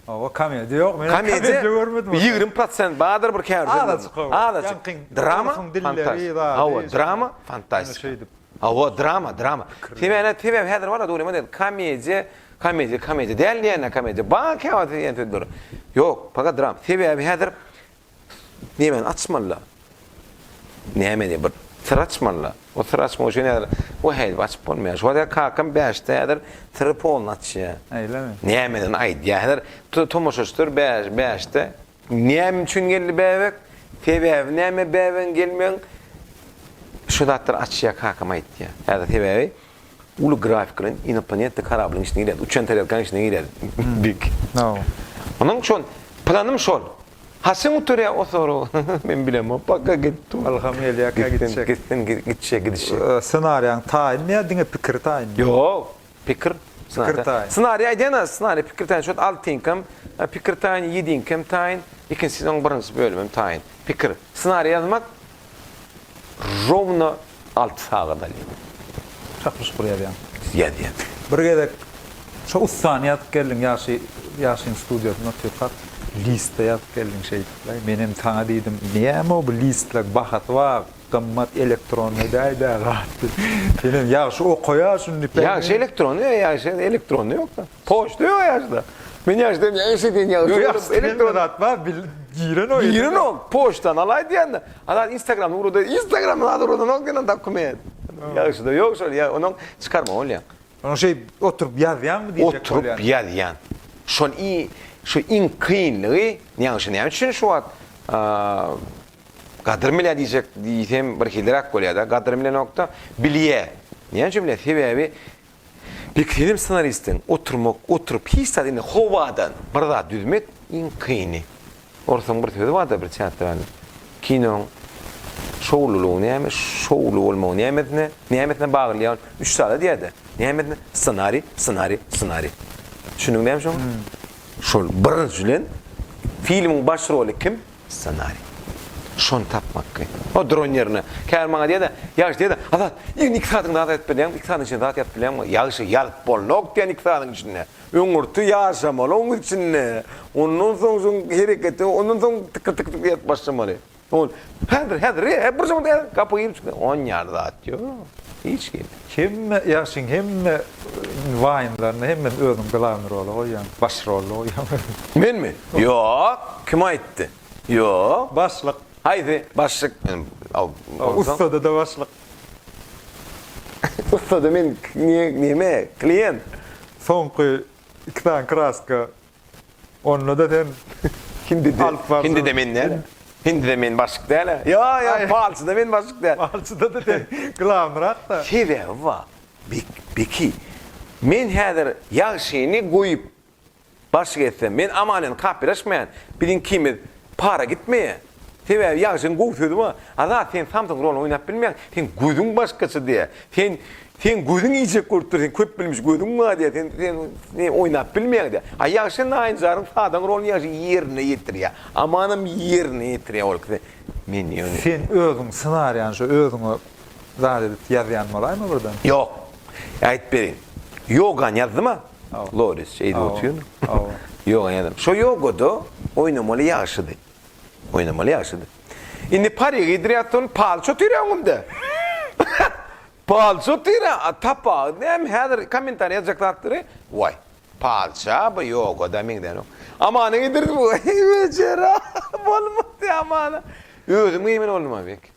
Hawa komediýa ýok men komediýa görmedim ony. Ýigrimi prosent bardyr bir käbir filmlerde. Azaçyk. Drama fantazýa. Hawa drama fantastika. Hawa drama drama. Sebäne sebäp häzir bar dogrymy diýen komediýa komediýa komediýa däl diýenler komediýa bar käbir diýen sözler. Ýok paga dram. Sebäbi häzir Nemeni açmaly-la? Nämeni? Bir syr açmaly-la. O syry açmak üçin häzir o häýdip açyp bolmaýar. Şuwagt häzir kakam bäşde häzir syry poluny açýar. Öýlemi? Nämeden aýdýar? Häzir tomaşaçylar bäşde näme üçin geldi bäbek? Sebäbi näme bäbegiň gelmegiň? Şu zatlary açýar kakam aýdýar. Häzir sebäbi Uly grafik bilen inoplanetda korablyň içine girýäs, uçan tarelkaň içine girýäs dik. Hawa. Onuň şol, planym şol. Haçan gutarýar o sorag? Men bilemok, paka git. Ylham gelýär kä gitjek. Gitsin, gitsin, gitişi, gidişi. Ssenariýaň taýynmy ýa diňe pikir taýynmy? Ýok, pikir. Pikir taýyn. Ssenariýa aýdýan-a, ssenariýa pikir taýyn. Şol altynkam pikir taýyn, ýedinkam taýyn, ikinjisi onuň birinji bölümem taýyn. Pikir. Ssenariýa ýazmak, Rowno alty sagat alýar. Çaklyşyp bir ýazýaň. Ýazýan. Bir gezek şo ussany ýazyp geldiň ýagşy ýagşyň studiýasynda otyrkak listde ýazyp geldiň şeýdipläý menem saňa diýdim näme bu listler bahasy bar gymmat elektronnyý daýda gaty senem ýagşy okaýa şuny diýip ýagşy elektronnyý ýagşy elektronnyý ýokda. Poçta ýok ýaşda. Men ýaşda ne iş edýän ýaly. Ýok ýaşda elektron zat bar, bil girenok. Girenok, poçtany alaý diýende. Ana instagramda urada, instagramda zat uradanok diýen dokument. Ýaşda ýok şol, ýa onuň çykarma bolýar. Onuň şeý oturyp ýazýanmy diýjek bolýan. Oturyp ýazýan. Şol i şu iň kynlygy, ýaňy şu näme üçin şu wagt gadyrym bilýär diýjek diýsem birhiliräk bolýar-da. Gadyrym bilenok-da, bilýär. Näme üçin bilýär? Sebäbi Bir film ssenaristiň oturmak, oturyp hiç zat indi howadan bir zat düzmek iň kyny. Orsuň bir sözi barda bir teatralnyň. Kinoň şowlulygy näme, şowly bolmagy nämesine, nämesine bagly ýa üç zada diýädä. Nämesine? Ssenariý, ssenariý, ssenariý. Düşündiňmi näme şoňa? Şol birinjiden filmiň baş roly kim? Ssenariý. Şony tapmak kyn. O dron ýerine. Käbir maňa diýýärdi, Ýagşy diýýärdi, Azat, ýigin iki sagatyň zat aýdyp bilýäňmi? Iki sagatyň içinde zat ýazyp bilýäňmi? Ýagşy, ýazyp bolnok diýen iki sagatyň içinde. Öňürti ýaşamaly oň içinde. Ondan soň şoň hereketi, ondan soň tykyr tykyr tykyr ýazyp başlamaly. Ol, Häzir, häzir, e, bir zat, e, gapy girip çykýar. Onýaly zat ýok. Hiç kime. Hemme ýagşyň hemme waýnlaryny hemmesini özüň glawnýy rola goýýaň, baş roly goýýaň özüň. Menmi? Ýok. Kim aýtdy? Ýok. Başlyk. Haýsy? Başlyk men bolsam. Ussada-da başlyk. Ussada men neme? Klient. Soňky iki sany kraska. Onda-da sen Hindi de, hindi de men däl. Hindi de men başyk däl. Ýa, ýa, palçy da men başyk däl. Palçyda da sen glamyrak-da. Sebäbi bar. Beki, men häzir ýagşyny goýup başyk etsem, men amalýan kapylaşmaýan, biziňkimiz para gitmeýär. Sebäbi Ýagşyň gowy sözi bar, Azat sen samsyk roluny oýnap bilmeýäň, seň gözüň başgaça diýýär. Sen seň gözüň iýjek bolup dur, seň köp bilmiş gözüň bar diýýär, sen sen sen oýnap bilmeýäň diýýär. A Ýagşy naýynjaryň sadaň roluny Ýagşy ýerine ýetirýär. Amanam ýerine ýetirýär ol ikisi. Men ýöne. Sen özüň ssenariýany şo özüňe zat edip ýazýan bolaýma birden? Ýok. Aýdyp bereýin. Ýogany ýazdym-a. Loris şeýdip oturýarmy? Ýogany ýazdym. Şo ýogada oýnamaly Ýagşydy. Oýnamaly ýagşydy. Indi parýa geýdirýär soň palço tüýrä öňümde. Palço tüýrä tapagy näme häzir kommentariýa ýazjak zatlary waý. Palça bu ýogada meňzänok. Amana geýdirdi bu. Wejera bolmady amana. Özüm geýmeli boldum-a belki.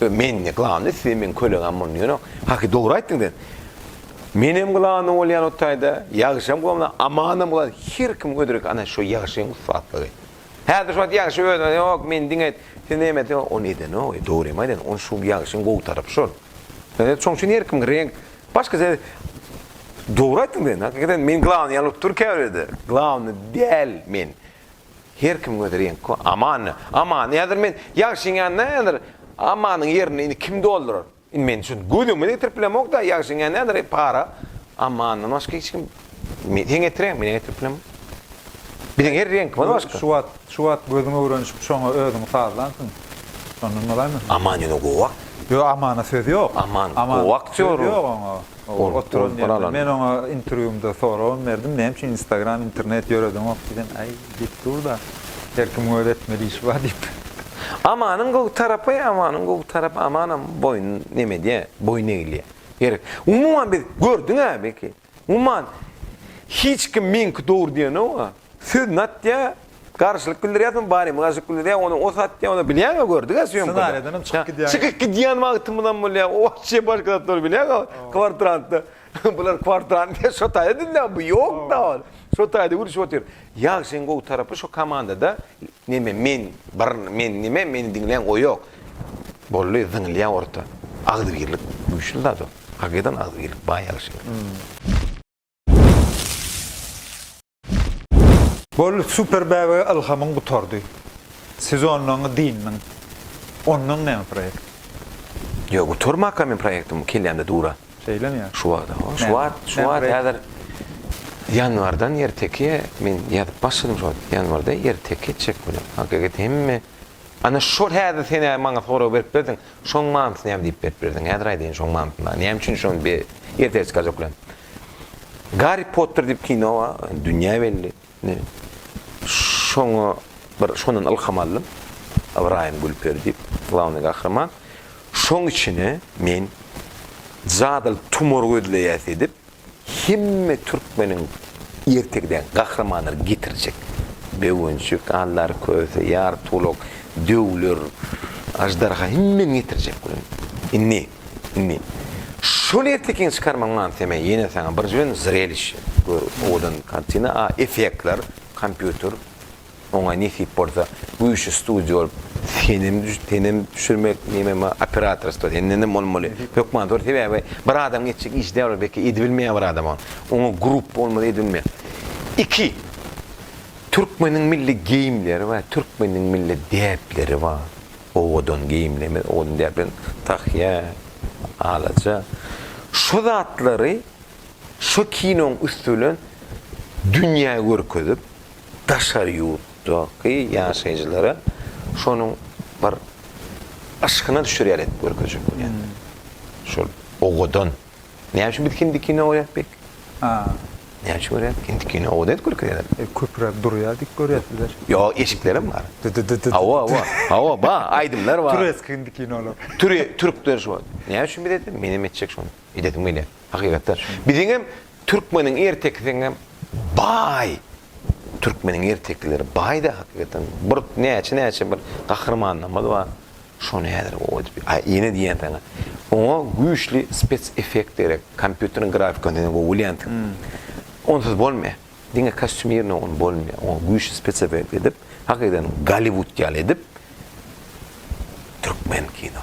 Öý mende glan ösýär meň kölegem boldy ýöne haky dogry aýtdyň sen Menem glany bolýan o taýda ýagşam glany amanam glan her kim ödrek ana şo ýagşyň ussatlygy. Häzir şu wagt ýagşy özüne ýok men diňe sen näme etdiň ony edenok e dogry hem aýdan ony şu ýagşyň gowy tarapy şol. Ýöne şoň üçin her kim reňk başga sen dogry aýtdyň sen hakykaten men glany ýaly bolup dur käbirlerde glany däl men Her kimiň öz reňki bar. Amany, Amany häzir men Ýagşyň ýanynda häzir Amanyň ýerini indi kim doldurar? Indi men şuny göz öňüme getirip bilemok-da, Ýagşyň ýanynda häzir e para Amandan başga hiç kim Men sen getiräýme, men-ä getirip bilemok. Biziň her reňkimiz başga. Şu wagt, şu wagt gözüň öwrenişip şoňa özüňi sazlansyň. Şondan bolaýmy? Aman ýöne gowa. Ýok, Amana söz ýok. Aman gowa aktýor. Söz ýok oňa. Ol oturan ýerinde men oňa interwýumda soragam berdim, näme üçin instagram, internet ýöredeňok diýsem, Äý, diýip dur-da, her kimiň öz etmeli işi bar diýip. Amanyň gowy tarapy, Amanyň gowy tarapy, Amanam boýun neme edýär, boýun egilýär. Gerek. Umuman biz, gördüň-ä belki, umuman hiç kim meňki dogry diýenok-a. Söz natya garşylyk bildirýärsiň bari mi garşylyk bildirýär ony o satýar ony bilýäňä gördügä sýomkada. Ssenariýadan hem çykyp gidýäňä. Çykyp gidýän wagtymyz hem bolýar o wagtçy başga zat dur bilýäňä kwartrantda bular kwartrant diýen şo taýda dünýä bu ýokda ol şo taýda gürlüşip otyr. Ýagşyň gowy tarapy şo komandada neme men bir men neme meni diňlän gowy ýok boldy zyňylýar orta agzybirlik güýçli zat ol hakydan agzybirlik baý ýagşyň. Bol super bäbege ylhamyň gutardy. Sezonlaňy dyndyň. Ondan näme proýekt? Ýok, gutarmaka men proýektim kellämde dura. Şeýlemi ýa? Şu wagta, o, şu wagt, şu wagt häzir ýanwardan erteki men ýazyp başladym şo ýanwarda erteki etjek bilen. Hakykat hemme Ana şol häzir sen maňa sorag berip berdiň, şoň manysyny näme diýip berip berdiň? Häzir aýdaýyn şoň manysyny maňa. Näme üçin şony bir erteki çykarjak bilen? Garri Potter diýip kino bar, dünýä belli. Şoňa bir şondan ylham aldym. Ybraýym Gülperi diýip, glawnyý gahryman. Şoň içine men jadyly tumor gözleýäs edip, hemme türkmeniň ertegidäki gahrymanlary getirjek. Böwençik, Aldar Köse, Ýartulak, Döwler, Aždarha hemmeni getirjek welin. Indi. Indi şol ertekiň çykarmaň manysy men ýene saňa birjigün zreliş gör owadan kartina a effektler kompýuter oňa nesip bolsa güýçli studio bolup senem senem düşürmek neme ma operatorstwo sendenem bolmaly hökman zor sebäbi bir adamyň etjek işi däl ol belki edibilmeýär bir adam on oňa gruppa bolmaly edilmeýär iki türkmeniň milli geýimleri bar türkmeniň milli däpleri bar. owadan geýimleme, owadan däplen, tahýa, alaja, şu zatlary şu kinoň üsti bilen dünýä görkezip, daşary ýurtdaky ýaşaýjylara şonuň bir yşkyna düşer ýaly edip görkezjek bolýarlar. Şol owadan. Näme üçin biz hindi kino görýäs pek? Haa. Näme üçin görýäs? Hindi kino oda edip görkezýärler. E, köpüräk durýar diýip görýäs bizler. Ýo, eşiklerem bar. Hawa, hawa. Hawa, bar, aýdymlar bar. Türeski hindi kinolar. Türe, türkler şu. Näme üçin biz edip? Menem etjek şony. Edesim gelýär. Hakykatam. Biziňem türkmeniň ertekisiňem baý Türkmeniň ertekileri baýda hakykatan. Bir näçe näçe bir gahrymanlarymyz bar. Şony häzir o edip ýene diýýän saňa. Oňa güýçli spes effekt gerek. Kompýuteriň grafikasy ýene gowy bolýandyr. Onsuz bolmaýar. Diňe kostýumirnoý ony bolmaýar. Oňa güýçli spes effekt edip, hakykatan Golliwud ýaly edip türkmen kino.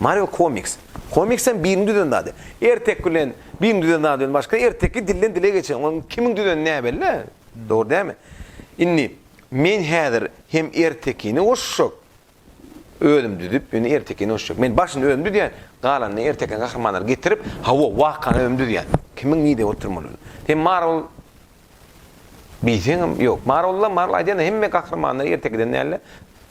Mario Komiks. Komiks hem biriň düzen zady. Erteki bilen biriň düzen zady bilen başga, erteki dilden dile geçen. Onuň kimiň düzeni näbelli-ä. Dogry dälmi? Indi, men häzir hem ertekini goşjak. Özüm düzüp, ýöne ertekini goşjak. Men başyny özüm düzýän, galanyny ertekiň gahrymanlary getirip, hawa, wakany özüm düzýän. Kimiň nirede oturmalydyny. Sen Marvel. Bilseňem ýok. Marylla, Marylla aýdanda hemme gahrymanlar erte giden dälde.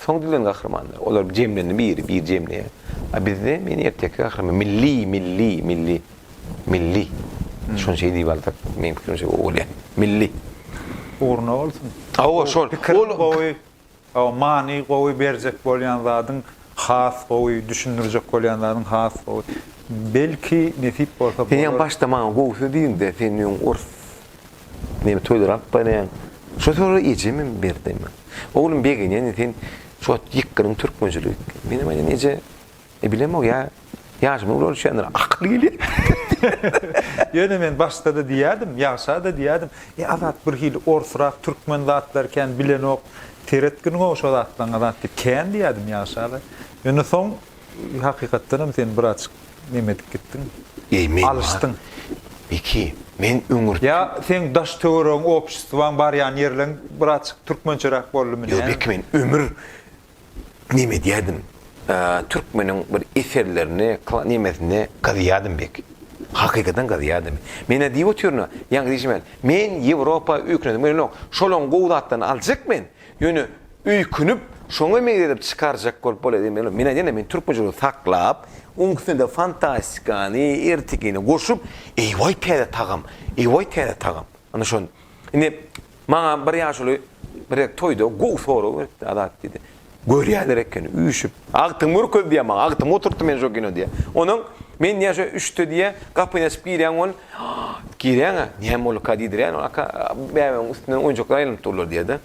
Soň düzen gahrymanlar. Olar jemlendi biri, biri jemleýär. A bizde men erteki gahryman. Milli, milli, milli. Milli. Şony şeý diýip alsak, meň pikirimçe gowy bolýar. Milli. Ugruna bolsun. Hawa, şol. Pikiriň gowy. Hawa many gowy berjek bolýan zadyň has gowy düşündirjek bolýan zadyň has gowy belki nesip bolsa Sen ýa başda maňa gowsy diýiňde sen öň ors neme toýlar alyp barýaň şo sowady ejemem berdi men oglum begenýän sen şu wagt ýykgynyň türkmençilik menem aýdýan eje E bilemok ya yaşymy ular düşendir akylly gelýär. Ýöne men başda-da diýýärdim, ýagşa-da diýýärdim. E Azat bir hili orsrak, türkmen zatlary kän bilenok. Seret gyn-gowy şo zatlaryň Azat diýip kän diýýärdim ýagşa-da. Ýöne soň hakykatdanam sen birazjyk neme edip gitdiň. Eý men Alyşdyň. Beki, men öňürti. Ýa seň daş töweregiň, obşestwaň barýan ýerleň birazjyk türkmençeräk boldumy näme? Ýok Beki men ömür Neme edýärdim? Türkmeniň bir eserlerini, nemesini gazýardym bek. Hakykadan gazýardym. Men-ä diýip otyryn-a, ýaňky diýşimen, men Ýewropa öýkünesim gelenok. Şolaň gowy zatlaryny aljak men. Ýöne öýkünip, şoňa meňzedip çykarjak bolup bolaýdym welin, men aýdýan-da, men türkmençeligi saklap, oň üstüne-de fantastikany, ertekini goşup, eý-waý täze tagam, eý-waý täze tagam. Ine şon. Indi Maňa bir ýaşuly birek toýda gowy sorag beripdi, Azat diýdi. Görýärler ekeni, üýşüp. Agtygymy görkez diýýär maňa, agtygymy oturtdy meni şo kino diýýär. Onuň, men diýýär şo üçde diýýär, gapyny açyp girýän bol, girýän-ä, näme bolduka diýdirýän, ol aka bäbämiň üstünden oýunjaklar aýlanyp durlar diýýär-de.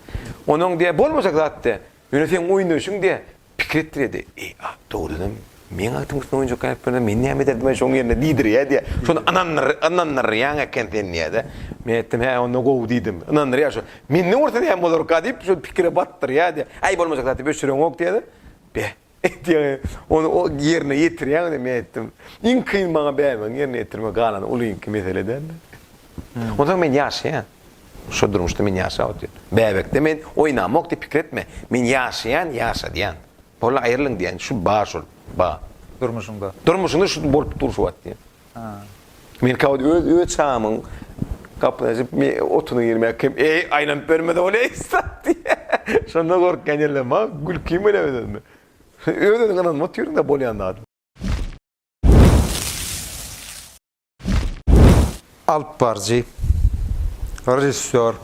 Onuň diýýär, bolmajak zat diýýär. Ýöne seň oýnaýşyň diýe pikir etdirýärdi. Eý, a, dogrudanam, meň agtyň üstüne oýunjak gaýyp berseň, men näme ederdim-ä şoň ýerine diýdirýär diýe. Şony ynandyrýaň eken sen diýýä-de. Men aýtdym, Hä, onda gowy diýdim. Ynandyrýar şo. Menden görse näme bolarka diýip, şol pikire batdyrýar diýýä. Äý, bolmajak zat diýip, öçüreňok diýýä-de. Be, Etýäňä, ony o ýerine ýetirýäňä diýip men aýtdym. Iň kyn maňa bäbäňi ýerine ýetirmek, galany ulyňky mesele dälmi? Onsoň men ýaşaýan. Şo durmuşda men ýaşap otyryn. Bäbekde men oýnamok diýip pikir etme. Men ýaşaýan, ýaşadýan. Boldy aýrylyň diýen, şu bar şol, bar. Durmuşyňda. Durmuşyňda şu bolup dur şu wagt diýen. Men käwagt öz öz çagymyň gapyny açyp, me otuny girmäge kim, eý, aýlanyp bermez ol, eý, stat! diýýä. Şonda gorkýan ýerlerim, maňa gülkim gelýä öz-özüme. Öz-özüňe ynanyp otyryn-da, bolýan zadym. Alypbaryjy, režissýor,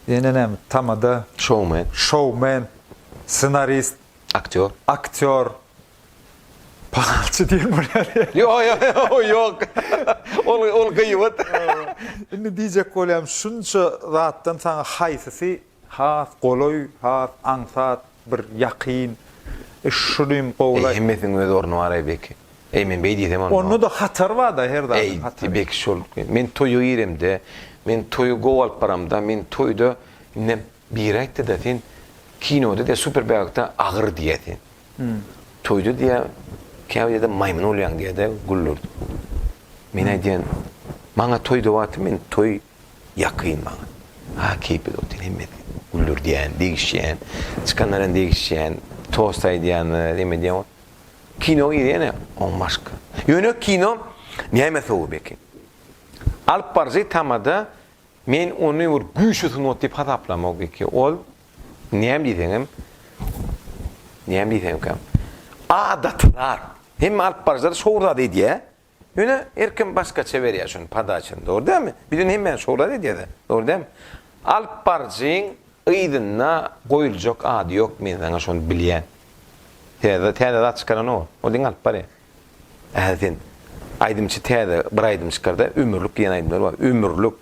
ýene näme, tamada. Şoumen. Şoumen, ssenarist. Aktýor. Aktýor, Pahalçy diýen bolýar ýa. Ýok, ýok, ýok, ýok. Ol, ol gyýbat. Indi diýjek bolýarym, şunça zatdan saňa haýsysy has golaý, has aňsat, bir ýakyn? E, şuny hem gowulaý. Eý, hemmesiniň öz orny bar-aý, Beki. Eý, men beý diýsem onda. Onda-da hatar bar-da, her zadyň hatary. Eý, Beki, şol, men toýa giremde, men toýa gowy alyp baramda, men toýda indem Biri aýtdy-da, sen kinoda diýýär, super bäbekde agyr diýýär sen. Toýda diýýär, käbir ýerde maýmyn bolýaň diýýär-de, güldürdi. Men aýdýan, maňa toýda wagty men toý ýakyn maňa. Ha, keýpli dur sen, hemmesi güldürdýän, degişýän, çykanlar hem degişýän, tost aýdýanlar, hem edýän. Kinoga girýän-ä, oň başga. Ýöne kino näme sowap eken? Alyp baryjy tamada Men ony bir güýçli sungat diýip hasaplamok eki. Ol, näme diýseňem, näme diýseňem kem. Adaty zat. Hemme alypbaryjylar şowly zat edýär. Ýöne her kim başgaça berýär şuny podaçany. Dogry dälmi? Biz indi hemmäni şowly zat edýäs-ä. Dogry dälmi? Alypbaryjyň yzynda goýuljak ady ýok, men saňa şony bilýän. Täze, täze zat çykaranok ol. Ol diňe alyp barýar. Ählisin. Aýdymçy täze bir aýdym çykarda, Ömürlik diýen aýdymlary bar. Ömürlik.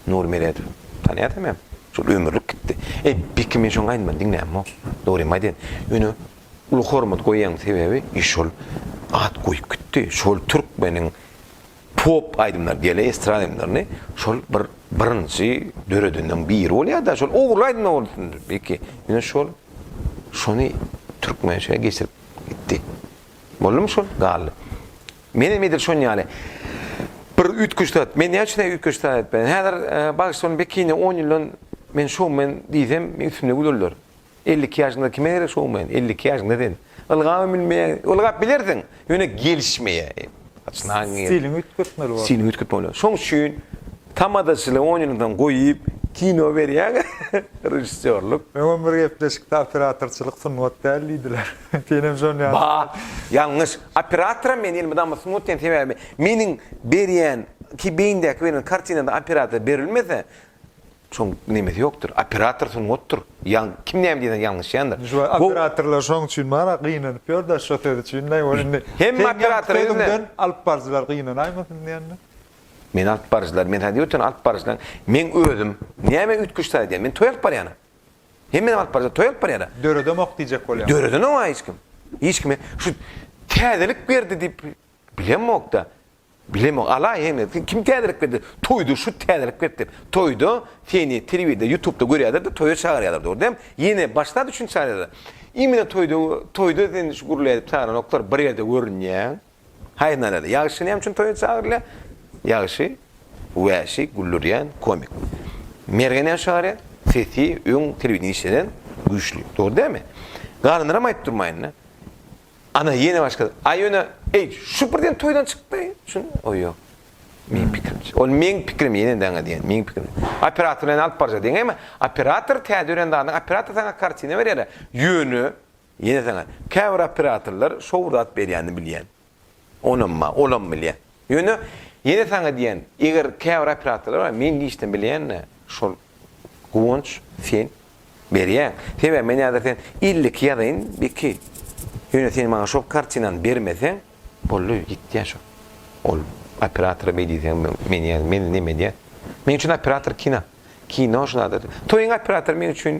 Nury Meredow. Tanýarsyňam hem. Şol ömürlik gitdi. Eý, beki men şoň aýdymyny diňlämok. Dogrymy aýdaýyn. Ýöne uly hormat goýýan sebäbi, i şol at goýup gitdi. Şol türkmeniň pop aýdymlary diýeli estrada aýdymlaryny şol bir birinji döredenleriň biri bolýar-da. Şol ogrul aýdymlar boldy beki. Ýöne şol şony türkmençe geçirip Gitdi. Boldumy şol? Galdy. Menem edil şon ýaly. Bir üýtgeşik zat. Men näme üçin üýtgeşik zat aýtmaýan? Häzir bagşylaryň bekine on ýyldan men şoumen diýsem, meň üstümde gülerler. Elli iki ýaşyňda kime gerek şoumen? Elli iki ýaşyňda sen ylgaba münmeýäň. Ylgap bilersiň, ýöne gelişmeýär. Stiliňi üýtgetmeli bolýar. Stiliňi üýtgetmeli bolýar. Şoň üçin tamadaçylygy on ýyldan goýup, kino berýäň, režissýorlyk. Öňem bir gepleşikde operatorçylyk sungat däl diýdiler. Sen hem şony ýazyp. Baa, ýalňyş. Operatoram men diýen mydama sungat diýen sebäbi meniň berýän, ki beýindäki berýän kartinada operator berilmese, Şoň nemesi ýokdyr. Operator sungatdyr. Ýaň kim näme diýseň ýalňyşýandyr. Şu operatorlar şoň üçin bar-a gynanyp ýör-de şo söz üçin näme bor indi. Hemme operator özünden alyp baryjylar gynanaýmasyn diýendir. Men alyp baryjylar, men saňa diýip otyran alyp baryjylaň meň özüm. Näme üýtgeşik zat edýän? Men toý alyp barýan-a. Hemmenem alyp baryjylar toý alyp barýar-a. Döredemok diýjek bolýan. Döredenem-ow hiç kim. Hiç kime şu täzelik berdi diýip bilemok-da. Bilemok ala hemesi kim täzelik berdi toýda şu täzelik beripdir toýda seni telewizde ýutubda görýälerdi toýa çagyrýalar dogry däm ýene baş zat üçin çagyrýalar imine toýda toýda seni şu gürlädip çagyranoklar bir ýerde görünýäň haýnalada ýagşy näme üçin toýa çagyrylýa ýagşy wäşi güldürýän komik merge näme çagyrýa sesi öň telewideniýe işleden güýçli dogry dämi galanlaram aýyp durmaýynda Ana, ýene başga. A ýöne, eý, şu birden toýdan çykdy. Şun, o ýok. Meň pikirimçe. Ol meň pikirim, ýene-de aňa diýen, meň pikirim. Operator bilen alyp barja diýen. Emma operator täze ören zadyň, operator saňa kartina berýär-le. Ýöne, ýene saňa, käbir operatorlar şowzat berýänini bilýän. Onam bar, olam bilýän. Ýöne, ýene saňa diýýän, eger käbir operatorlar bar, meň giçden bilýän-de şol, Guwanç, sen berýäň. Sebäbi men häzir sen elli iki ýazaýyn, belki, ýöne sen maňa şol kartinany bermeseň, boldy, ýitýär şo. Ol operatora beý diýseň, men ýa, meni näme edýär? Meň üçin operator kino. Kino şulardyr. Toýuň operatory meň üçin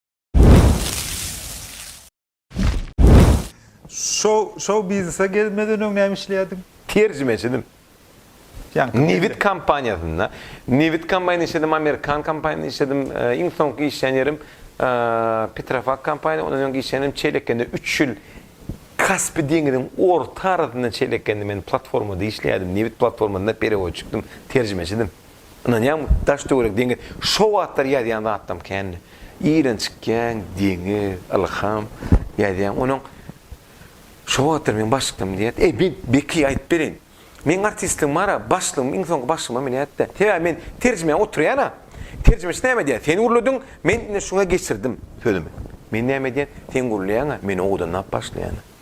Şow, şow biznese gelmeden öň näme işleýärdiň? Terjimeçidim. Ýaňky Nebit kompaniýasynda. Nebit kompaniýasynda işledim, amerikan kompaniýasynda işledim. Iň soňky işlän ýerim Petrofak kompaniýa, ondan öňki işlän ýerim Çelekende üç ýyl Kaspi deňiziň orta arasynda Çelekende men platformada işleýärdim. Nebit platformasynda perewoçikdim, terjimeçidim. Ynanýaňmy, daş-töwerek deňiz, şo wagtlar ýazýan zatlarym kändi. Irenç kän deňiz, ylham, ýazýan. Onuň Şo wagtlar meň başlyklarym diýýär. Eý, men Beki aýdyp bereýin. Meň artistligim bar-a, başlygym, iň soňky başlygym men ýat-da. Sebäbi men terjime oturýan-a. Terjimeçi näme diýýär? Sen gürlediň, men indi şuňa geçirdim sözümi. Men näme diýen? Sen gürleýäň-ä, men owadanlap başlaýan-a.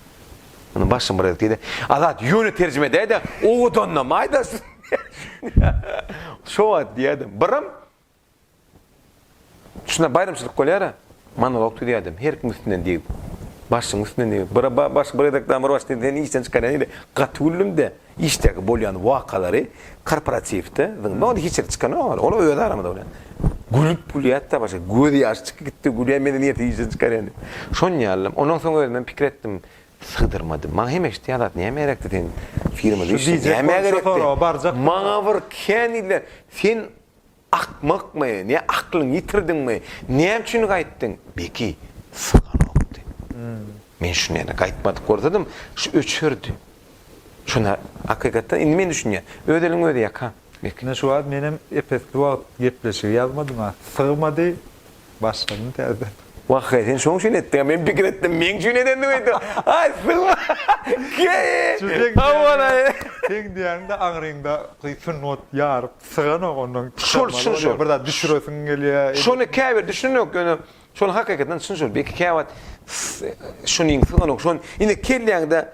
Muny başym bir ezdi-de, Azat, ýöne terjime edäý-de, owadanlam aýdasyn. Şo wagt diýýärdim, birim, Şunda baýramçylyk bolýar-a, monolog düzýärdim, her kim üstünden degip, başyň üstünden degip, bir-a başga bir gezek damyr başyny sen işden çykarýan ýeri gaty güldüm-de. Işdäki bolýan wakalary korporatiwde zyňma onda hiç ýerde çykan ýok ol öz aramyzda bolýan. Gülüp gülýätdä başga göz ýaşy çykyp gitdi gülýän medeniýeti işden çykarýan diýip. Şon ýaly ondan soň özümem pikir etdim. Sygdyrmadym. Maňa hem eşit ýa zat näme gerekdi sen firmada işle näme gerekdi. Maňa bir kän diýdiler sen Akmakmy, ne aklyňy ýitirdiňmi, näme üçin gaýtdyň? Beki, syganokdy. Men şuny ýene gaýtmadyk bolsadym, şu öçerdi. Şuny, hakykatdan, indi men düşünýän. Öz eliň özi ýaka, Beki. Ine şu wagt menem epesli wagt gepleşigi ýazmadym-a. Sygmady, Başladym täzeden. Wahheý sen şoň üçin etdiňä men pikir etdim meň üçin edendiň öýtdüm aý syňma keý howalaý. Seň diýýäňde aňryňda gysyn ot ýaryp syganok ondan şol şol şol bir zat düşüresiň gelýä. Şony käbir düşünenok ýöne şony hakykadan çyn şol belki käwagt şunyň syganok şony indi kelläňde.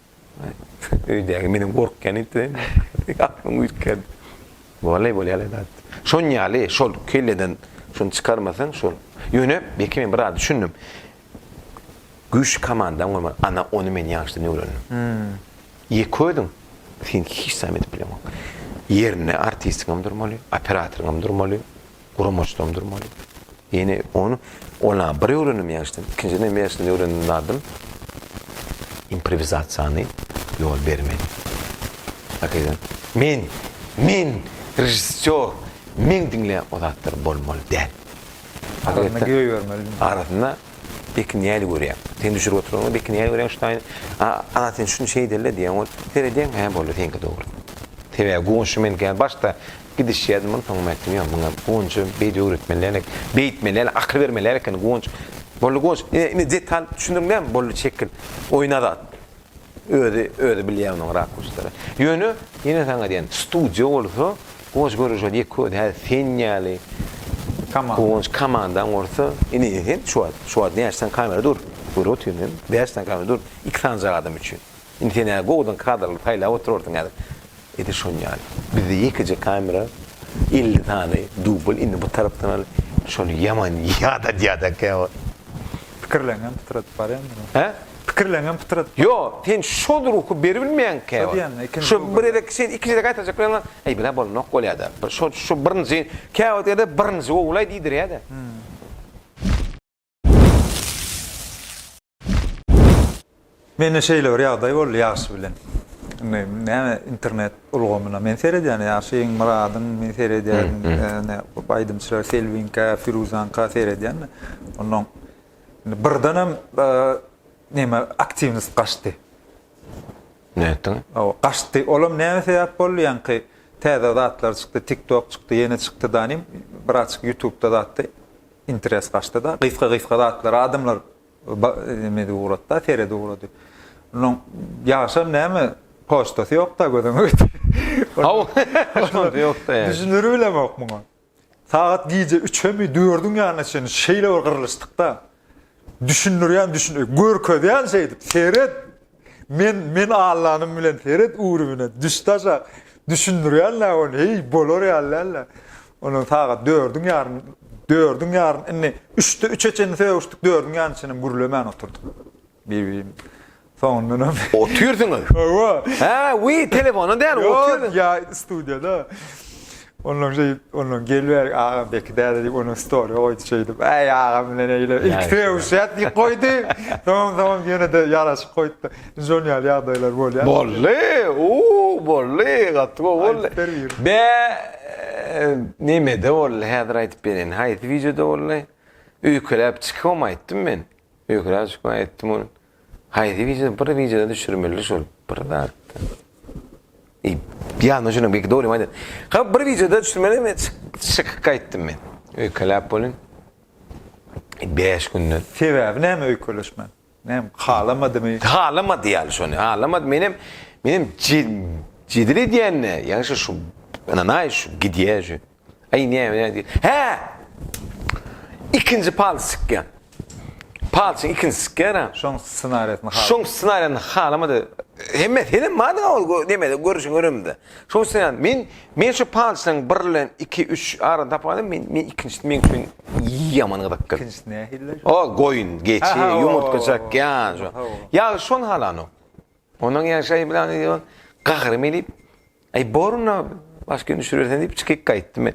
Öýdäki menden gorkýan intizem. Aklymy üýtgärdi. Wallay bolýaly zat. Şon ýaly, şol kelleden şony çykarmasaň şol. Ýöne belki men biraz düşündim. Güýçli komandam gurman, ana ony men ýaşdan öwrendim. Ýeke özüň sen hiç zam edip bileňok. Ýerinde artistiňem durmaly, operatoryňam durmaly. guramaçlandyrmaly. Ýene ony ola bir öwrendim ýaşdan, ikinjiden hem ýaşdan öwrendim zadym improwizasiýany ýol bermeli. Hakykatdan men men režissýor, men diňleýän o zatlar bolmaly däl. Hakykatdan göý bermeli. Arasynda Bekin näli görýär? Sen düşürip oturanyňda Bekin näli görýär? Ştaýn, a, a sen şuny şeýdeli diýen ol. Seredýän, hä boldy, seňki dogry. Sebäbi goňşy men gel başda Gidişýäs muny soňam aýtdym ýa muňa Gunça beýdip öwretmeliälik beýtmeliälik akyl bermeliälik ekeni Gunç boldy Gunç ine ine detal düşündiriň näme boldy çekil oýun azat özi özi bilýä onuň rakurslary ýöne ýene saňa diýen studiýa bolsa Gunç görüň şol ýeke özi häzir sen ýaly Komanda Gunç komandaň bolsa ine ine sen şu wagt şu wagt näçe sany kamera dur görüp otyr men bäş sany kamera dur iki sanjak adam üçin. Indi sen ýa gowudan kadrlary saýlap oturarsyň häzir. Edil şonuň ýaly. Bizde ýekeje kamera, elli sany dubl, indi bu tarapdan al, şony ýaman ýadadýada käwagt. Pikirleňem pytradyp barýan durun. Hä? Pikirleňem pytradyp barýan. Ýok, sen şol ruhy beribilmeýäň käwagt. Şo diýýän-ä, ikinji dubl. Şo bir gezek sen ikinjide gaýtarjak bolýaň, aý bile bolanok bolýada. Şo birinji, käwagt ýerde birinji gowulaý diýdirýädä. Mende şeýle bir ýagdaý boldy ýagşy bilen. Indi näme internet ulgamyna men seredýän ýagşy iň myradyn men seredýän näme aýdymçylar Selbinka, Firuzanka seredýän. Ondan birden hem e, näme aktiwnost gaçdy. Nätdiň? O gaçdy. Olam näme sebäp boldy ýaňky täze zatlar çykdy, TikTok çykdy, ýene çykdy danym. Birazçyk YouTube'da zatdy. Interes gaçdyda, gysga-gysga zatlara adamlar neme ugratda, seredi ugrady. Onuň ýagşam näme, poçtasy ýokda gözüňe getir. Haw, poçtasy ýokda. Düşüner bilemok muňa. Sagat gije üçemi, dördüň ýanyna çenli şeýle bir gyrlyşdykda, düşündirýän, düşün, görkezýän şeýdip, seret, Men, men allanym bilen seret ürübine, düşdaşak, düşündirýän dä ony, heý, bolar ýaly däl-le. Ondan sagat dördüň ýarym, dördüň ýarym, indi üçde üçe çenli sögüşdik, dördüň ýarymyna çenli gürlemän oturdyk bir-birimiz bilen. Soňundanam. Otyrsyňyz? Hawa. Hä, wiý, telefonda däl, otyrsyňyz. Ýok, ýa, studiýada. Ondan şeýdip, ondan gelibärik agam beki däde diýip, onuň story goýdy şeýdip. Äý agam bilen eýle ilki sögüşýäs diýip goýdy. Soň soň ýene-de ýaraşyk goýupdy. Şol ýaly ýagdaýlar bolýar. Boldy, uu, boldy, gaty gowy boldy. Bä, nemede boldy häzir aýdyp bereýin. Haýsy wideoda boldy? Öýkeläp çykyp hem aýtdym men. Öýkeläp çykyp aýtdym ony. Haýsy wideo bir wideo düşürmeli şol bir zatda. Ey, ýa no şuna bir doly maýda. Ha bir wideo düşürmeli men şyk gaýtdym men. Öýkeläp bolun. 5 günde. Sebäbi näme öýkeleşme? Näme halamadymy? Halamady ýaly şony. Halamady menem menem jedil edýän ne? Ýa şu şu ana naý şu gidýä şu. Aý näme nädýär? Hä! Ikinji palçy çykýar. Palçyň ikinjisi çykýar. Şoň ssenariýasyny halamadyk. Şoň ssenariýasyny halamady. Hemme senem bardy ol nemede görüşiň öremde. Şoň üçin men men şu palçynyň bir bilen 2 3 arany tapyp alýan. Men men ikinjisini men üçin ýaman gyzykdy. Ikinjisi nähili? O goýun, geçi, ýumurtga çakýan. Ýa şony halanok. Onuň ýaşaýy bilen ýylan gahrym edip, Aý, boruna, başga gün düşürersen diýip çykyp gaýtdym men.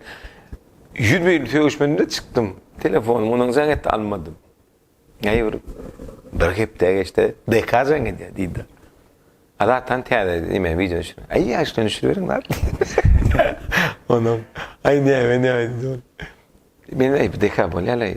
Ýüz beýle sögüşmedim-de çykdym. Telefonym onuň jaň etdi, almadym. Aý, bir, bir hepde geçdi, DK jaň edýär, diýdi. Adatdan täze näme wideo düşür. Aý, ýaşdan düşüriberiň zat. Onuň, aý, näme, näme diýdi. Men aý, DK bolýar-laý.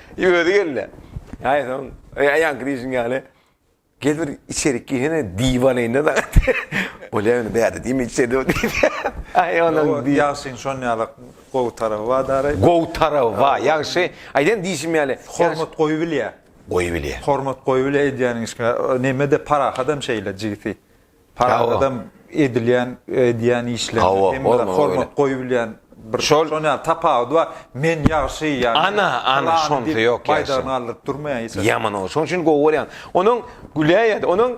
I özi geldi. Aý soň, aýaň grizin ýaly. Gel bir içerik girsene diwanaýynda saňa diýdi. Bolýa indi bärde diýme içeride ol diýdi. Aý onuň diý. Ýagşyň şon ýalak gowy taraby bar daraý. Gowy taraby bar ýagşy. Aýdan diýşim ýaly. Hormat goýubilýä. Goýubilýä. Hormat goýubilýä edýäniň işiňe. Neme-de parahat hem şeýle jigisi. Paragadam edilýän edýän işlerine hem bir hormat goýubilýän bir şol ýaly tapawudy bar. Men ýagşy ýagny. Ana, ana şonda ýok ýa. Baýdagyny galdyryp durmaýan hiç haçan. Ýaman ol. Şoň üçin gowy görýän. Onuň güläýýädi. Onuň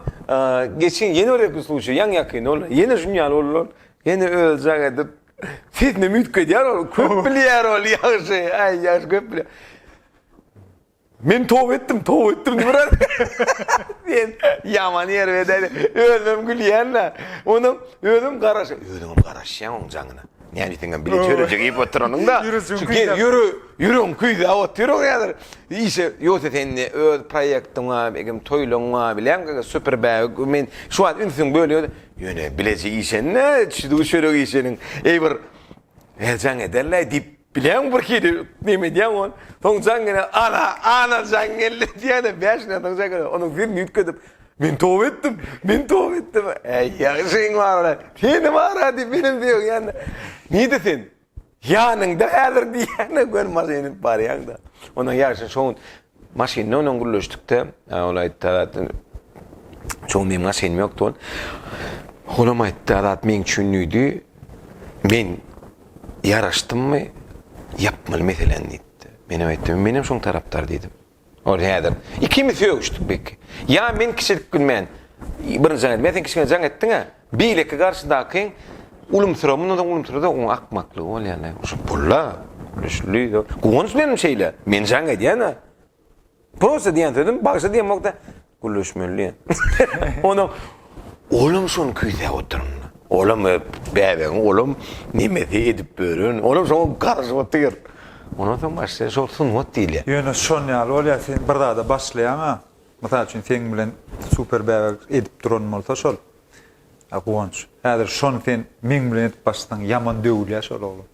geçen ýene bir epis duşy ýaň ýakyn ol. Ýene şuny ýaly boldular. Ýene özjaň edip sesinem üýtgedýär ol. Köp bilýär ol ýagşy. Aý ýagşy köp bilýär. Men toba etdim, toba etdim diýip biraz. Sen ýaman ýer bedeli. Özüm gülýän-de. Onam özüm garaş. Özüm hem garaşýan oň jaňyna. Näme diýseň hem bile töreje iýip oturanyň-da. Ýüregi, ýüregim küýzäp otyr oň häzir. Işe ýogsa sen öz proýektiň bar, eýsem toýlaryň bar bilen gaga super bag. Men şu wagt ünsüňi bölýän. Ýöne bileje işen-dä, çüdügi çörek işeniň. Eý bir heýjan ederler diýip Bileň bir hili neme edýäň ol. Soň jaňňele ala, ala jaňňelle diýýäne bäş gün soň jaňňele onuň ýüzüni üýtgedip, Men toba etdim, men toba etdim. Äý ýagşyň bar-a, seni bar-a diýip menem söýeň ýanda. Nide sen? Ýanyňda häzir diýýäne gör maşyn edip barýaň-da. Onuň ýagşy şo gün Maşyny onuň gürleşdikde, ol aýtdy, Azat, çuň meniň maşynym ýokdy ol. Olam aýtdy, Azat meň üçin düýdi, men ýaraşdymmy, ýapmaly meseleni diýipdi. Menem aýtdym, menem şoň tarapdar diýdim. Ol häzir, ikimiz sögüşdik beýtki. Ýa men kiçilik bilmän, birinji jaň etdim, ýa sen kiçilik jaň etdiň-ä. Beýleki garşydaky ulumsyrak mundanam ulumsyrak oň akmaklygy bolýarda şu pulla gülüşli guwanç meniň şeýle men jaň edýäna prosta diýen sözüm bagşy diýemokda gülüşmeli diýen onuň olam şony küýsäp oturyn olam bäbegiň olam nemesi edip bören olam şoňa garaşyp otyr ondan soň başlaýar şol sungat diýilýär ýöne şoň ýaly bolýar sen bir zada başlaýaňa Mysal üçin seň bilen super bäbek edip duran bolsa şol Guwanç. Häzir şony sen meň bilen edip başlasaň ýaman döwülýär şol oglan.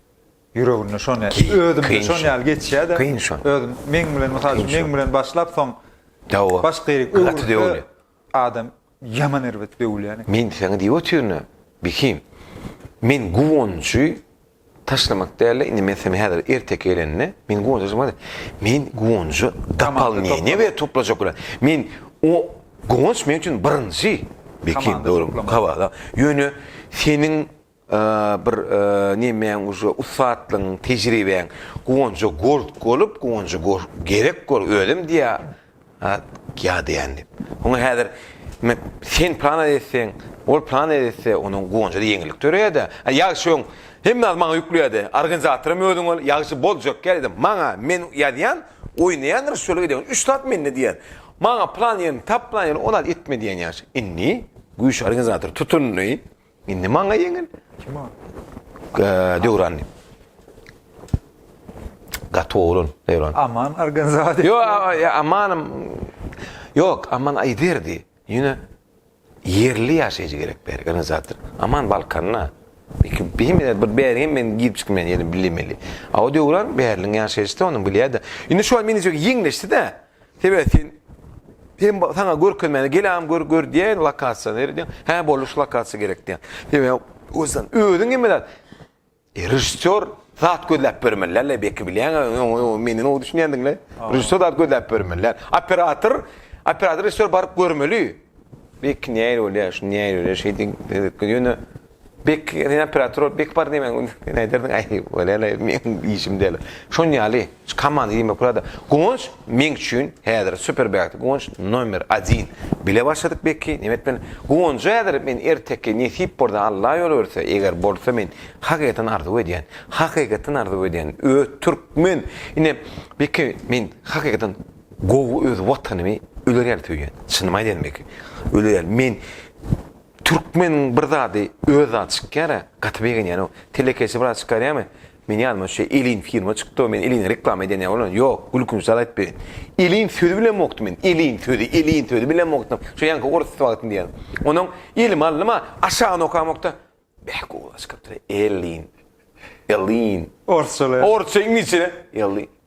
Ýüreginde şony özümde şon ýaly geçýär-de. Kyn şon. Özüm meň bilen mysal üçin meň bilen başlap soň başga ýerik öwrülse adam Ýaman erbet döwülýän eken. Men seňe diýip otyryn-a, Bekim. Men Guwanjy taşlamak däl-de, indi men seni häzir erteki gelende, men Guwanjy taşlamak däl. Men Guwanjy dopolneniýe berip toplajak bolaryn. Men o Guwanç meň üçin birinji, Bekim, dogry, kabahat-a. Ýöne seniň Bir nemäň uje ussatlygyň tejribäň guwanja gork bolup guwanja gork gerek bor özem diýä ýa diýän diýip oňa häzir men sen plan etseň ol plan etse onuň guwanjy ýeňillik döreýädä ýag şoň hemme maňa ýükleýädi organizatoram özüň bol ýagşy boljak ýa maňa men ýazýan oýnaýandyr şöyle gidýän üç zat mende diýýän maňa plan ýerini tap plan ýerini ol al etme diýýän ýagşy indi güýç organizator tutundy Indi maňa ýeňil. Kima? Döwran. Gaty oglan Döwran. Aman organizator. Yo, Aman Yok, Aman aýderdi. Ýöne ýerli ýaşaýjy gerek bir organizator. Aman Balkanda. Iki bir bir bäri men girip çykmaýan ýerim bilemeli. Aw Döwran bärliň ýaşaýjysy, onuň bilýärdi. Indi şu an meni ýeňleşdi-de. Sebäbi sen Sen sana görkezmäne gelam gör gör diýen lokasiýa ner diýen. Hä boldy şu lokasiýa gerek diýen. Sebäbi özün özün hem bilen e, režissýor zat gözläp bermeli. Alla beki bilýän meni o düşünýändiňle. Režissýor zat gözläp bermeli. Operator operator režissýor baryp görmeli. Beki näýer bolýar, şu näýer bolýar, şeýdin. Ýöne Bek sen operator bol, bek bar diýmän sen aýdardyň aý welin meniň işim däl. Şon ýaly şu komanda diýmek bolada. Guwanç meň üçin häzir super bek Guwanç nomer 1. Bile başladyk bekki neme etmeli. Guwanjy häzir men erteki nesip bolsa Alla ýol berse eger bolsa men hakykaten arzuw edýän. Hakykaten arzuw edýän öz türkmen ine bekki men hakykaten gowy öz watanymy öler ýaly söýýän. Çynymy aýdaýyn bekki. Öler ýaly men Türkmeniň bir zady öz zady çykýara gaty begenýänow. Telekeçi bir zat çykarýamy? Meniň ýanyma şu Elin firma çykdow men Eline reklama edýän ýa bolan ýok gülkünç zat aýdyp berin. Elin sözi bilemokdym men Elin sözi Elin sözi bilemokdym şu ýaňky orus wagtynda ýaly. Onuň elime aldym-a aşagyny okamokda beh gowulaşyp gitdi Elin Elin. Orsça bilen. Orsça iňlisçe bilen Elin.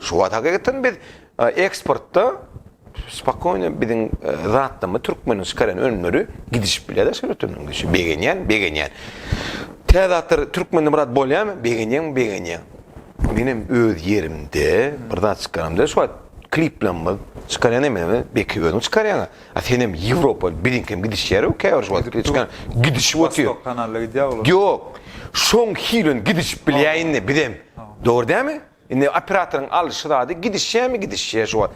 Şu wagt hakykatdan biz eksportda spokojno biziň zatlarymy türkmeniň çykaran önümleri gidişip bilýär daşary ýurtlaryň üçin begenýän begenýän. Täze zatlar türkmende biraz bolýarmy begenýän begenýän. Menem öz ýerimde bir zat çykaramda şu wagt kliplerimiz çykarýan emeli belki özüň çykarýaňa a senem ýewropa biziňkem gidişýär käbir şu wagt çykan gidişip otyr. Wostok kanalda gidýär olar. Ýok. Şoň hili gidişip bilýär indi bizem. Dogry dälmi? Indi operatoryň alşy zady gidişýämi gidişýä şo wagt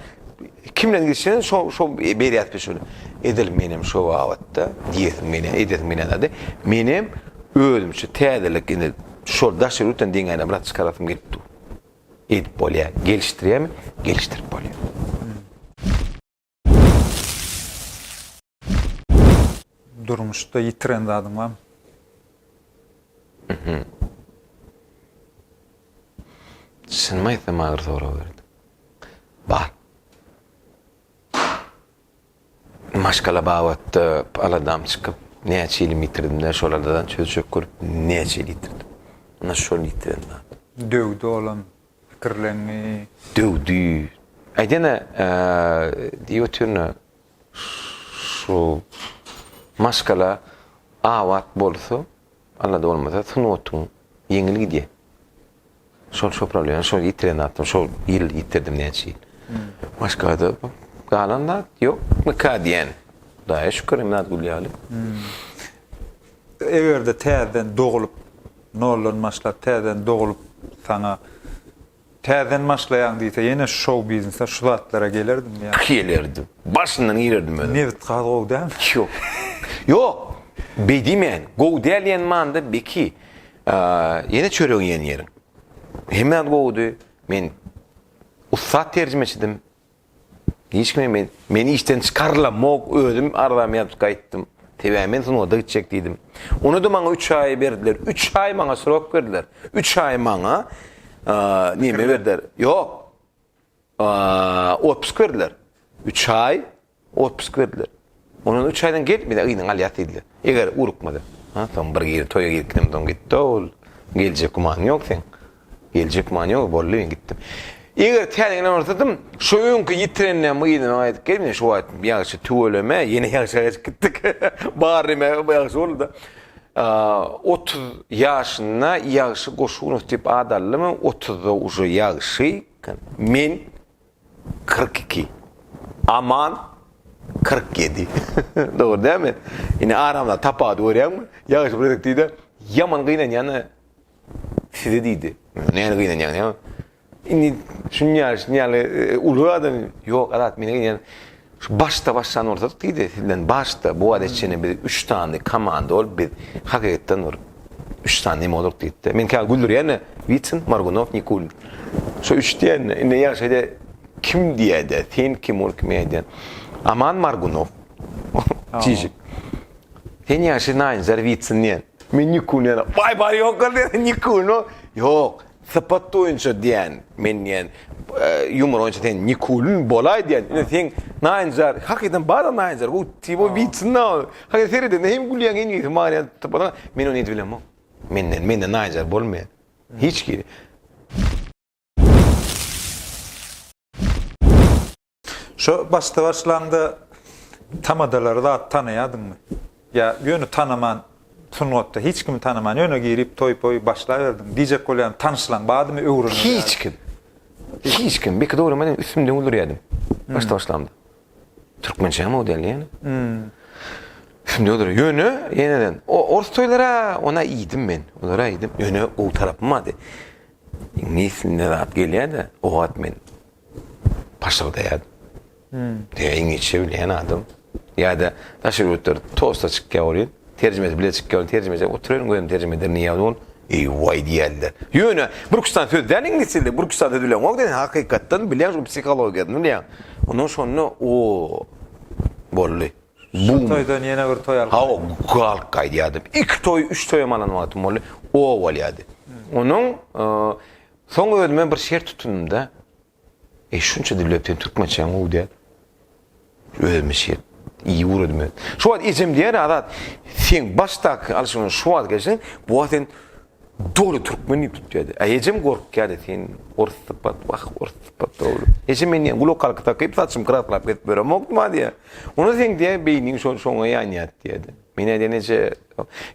kim bilen gidişýäni şo şo berýäs biz şöyle edil menem şo babatda diýesim gelýä edesiň gelýän zady menem özümçe täzelik indi şol daş ýurtdan deňänem rat çykarasym gelip dur edip bolýa gelişdirýämi gelişdirip bolýa. Durmuşda ýitiren zadyň barmy? Çynymy aýtsam agyr sorag berdi. Bar. Maşgala babatda aladam çykyp, näçe ýylymy ýitirdim-de, şol aladadan çöz-çök görüp, näçe ýyl ýitirdim. Ynha şol ýitiren zat. Döwde bolan pikirlendi. Döwdi. Aýdene, diýip otyryn-a, şu maşgala abat bolsa, Allada bolmasa, sungatyň ýeňil gidýär. Şol şu problemany, şol ýitiren zatym, şol ýyl ýitirdim, näçe ýyl. Maşgalada galan zat ýok, nika diýen. Hudaýa şükür, Emraat gül ýaly. Eger-de täzeden dogulyp, Noldan başlap täzeden doglup saňa täzeden başlaýaň diýse ýene şou biznese şu zatlara gelerdimi ýa. Gelerdim. Başyndan girerdim özüm. Nebit gaz gowy dälmi? Ýok. Ýok. Beý diýmen. Gowy däl diýen manyda belki ýene çörek iýen ýeriň. Hemme zat gowudy. Men ussat terjimeçidim. Hiç kime men, meni işden çykarylamok, özüm arzamy ýazyp gaýtdym. Sebäbi men sungata gitjek diýdim. Ony-da maňa üç aý berdiler. Üç aý maňa srok berdiler. Üç aý maňa neme berdiler? Ýok. Otpusk berdiler. Üç aý Otpusg berdiler. Ondan üç aýdan gel, bize gyzyňy alýas diýdiler. Eger ugrukmasa. Ha, soň bir gir, toýa girkinem soň gitdi-ä ol. Geljek gümanyň ýok seň. Geljek gümanyň ýok, boldy men gitdim. Eger täzegini ynanarsadym, şo öňki ýitireninem gyzyma gaýdyp gel, men şo wagt ýagşy tüweleme, ýene ýagşa gaçyp gitdik. Bar neme ýagşy boldy-da. Otuz ýaşynda Ýagşy Goşunow diýip at aldy, men otuzda uje ýagşy, men Kyrk iki. Aman kyrk ýedi. Dogry dämi? Indi aramda tapawudy görýäňmi? Ýagşy bir gezek diýdi, Ýaman gynanýan-a size diýdi. Näne gynanýaň näme? Indi şuny ýaly, şuny ýaly uly adam. Ýok, Azat, men gynanýan. Şu başda başlan bolsadyk diýdi sizden başda bu wagta çenli biz üç sany komanda bolup biz hakykatdan bir üç sany neme bolduk diýipdi. Men käwagt güldürýän Witsin, Morgunow, Nikulin. Şu üç diýen indi ýagşyda kim diýäde sen kim ol kim ýaýda. Aman Morgunow. Çişik. Sen ýagşy naýynjar Witsin diýen. Men Nikulin diýen. Waý bary ýok ol diýen Nikulin o. Ýok. Sypat boýunça diýän, men diýän, ýumor boýunça sen Nikulin bolaý diýän, ine seň naýynjar, hakykatdan bar-a naýynjar, bu tibo witsin-a, hakykatdan seredende hem gülýäň hem ýeňiň maňa sypatyňa, men ony edip bilemok, menden, menden naýynjar bolmaýar, hiç kim. Şo başda başlanda tamadalary zat tanaýadyňmy? Ýa ýöne tanaman sungatda hiç kimi tanaman ýöne girip toý poý başlaýberdiň. Diýjek bolýan tanyşlaň badymy öwreniň. Hiç kim. Hiç kim. Beki dogry meniň üstümde öldürýädim. Hmm. Başda başlanda. Türkmençe hem o diýen ýene. Hmm. Şimdi olur. Yönü yeniden. O ors toylara ona iyiydim ben. Onlara iyiydim. Yönü o tarafım vardı. İngiliz ne rahat geliyor da. O at men. paşyrdaýar. Diňe iňlisçe bilýän adam ýa-da daşary ýurtlar tosta çykýar welin, terjimesi bile çykýar, terjimesi oturyň gözüm terjime eder niýe ol? Eý waý diýerler. Ýöne Burkistan söz däl iňlisçe dilde, Burkistan söz bileňok diýen hakykatdan bilýän şol psihologiýasyny bilýän. Ondan şonda o boldy. Şu toýdan ýene bir toý alyp. Hawa, galyp gaýdýardym. Iki toý, üç toýam alan wagtym boldy. O bolýardy. Onuň Soň özüme bir şert tutundym-da, Eý, şunça dürläp seň türkmençäň gowy däl. Özüme şert, iyi ugradymy men. Şu wagt ejem diýýär, Azat, seň başdaky alşyňdan şu wagt gelşiň, bu wagt sen doly türkmen diýip tutýardy. Aý ejem gorkýardy, sen ors sypat, wah, ors sypat dogry. Ejem men diýýär, gulakalka takyp saçym kraslap gezip ýöremokdyma diýýär. Onda seň diýýär, beýniň şo-şoňa ýanýardy diýýärdi. Men aýdýan eje,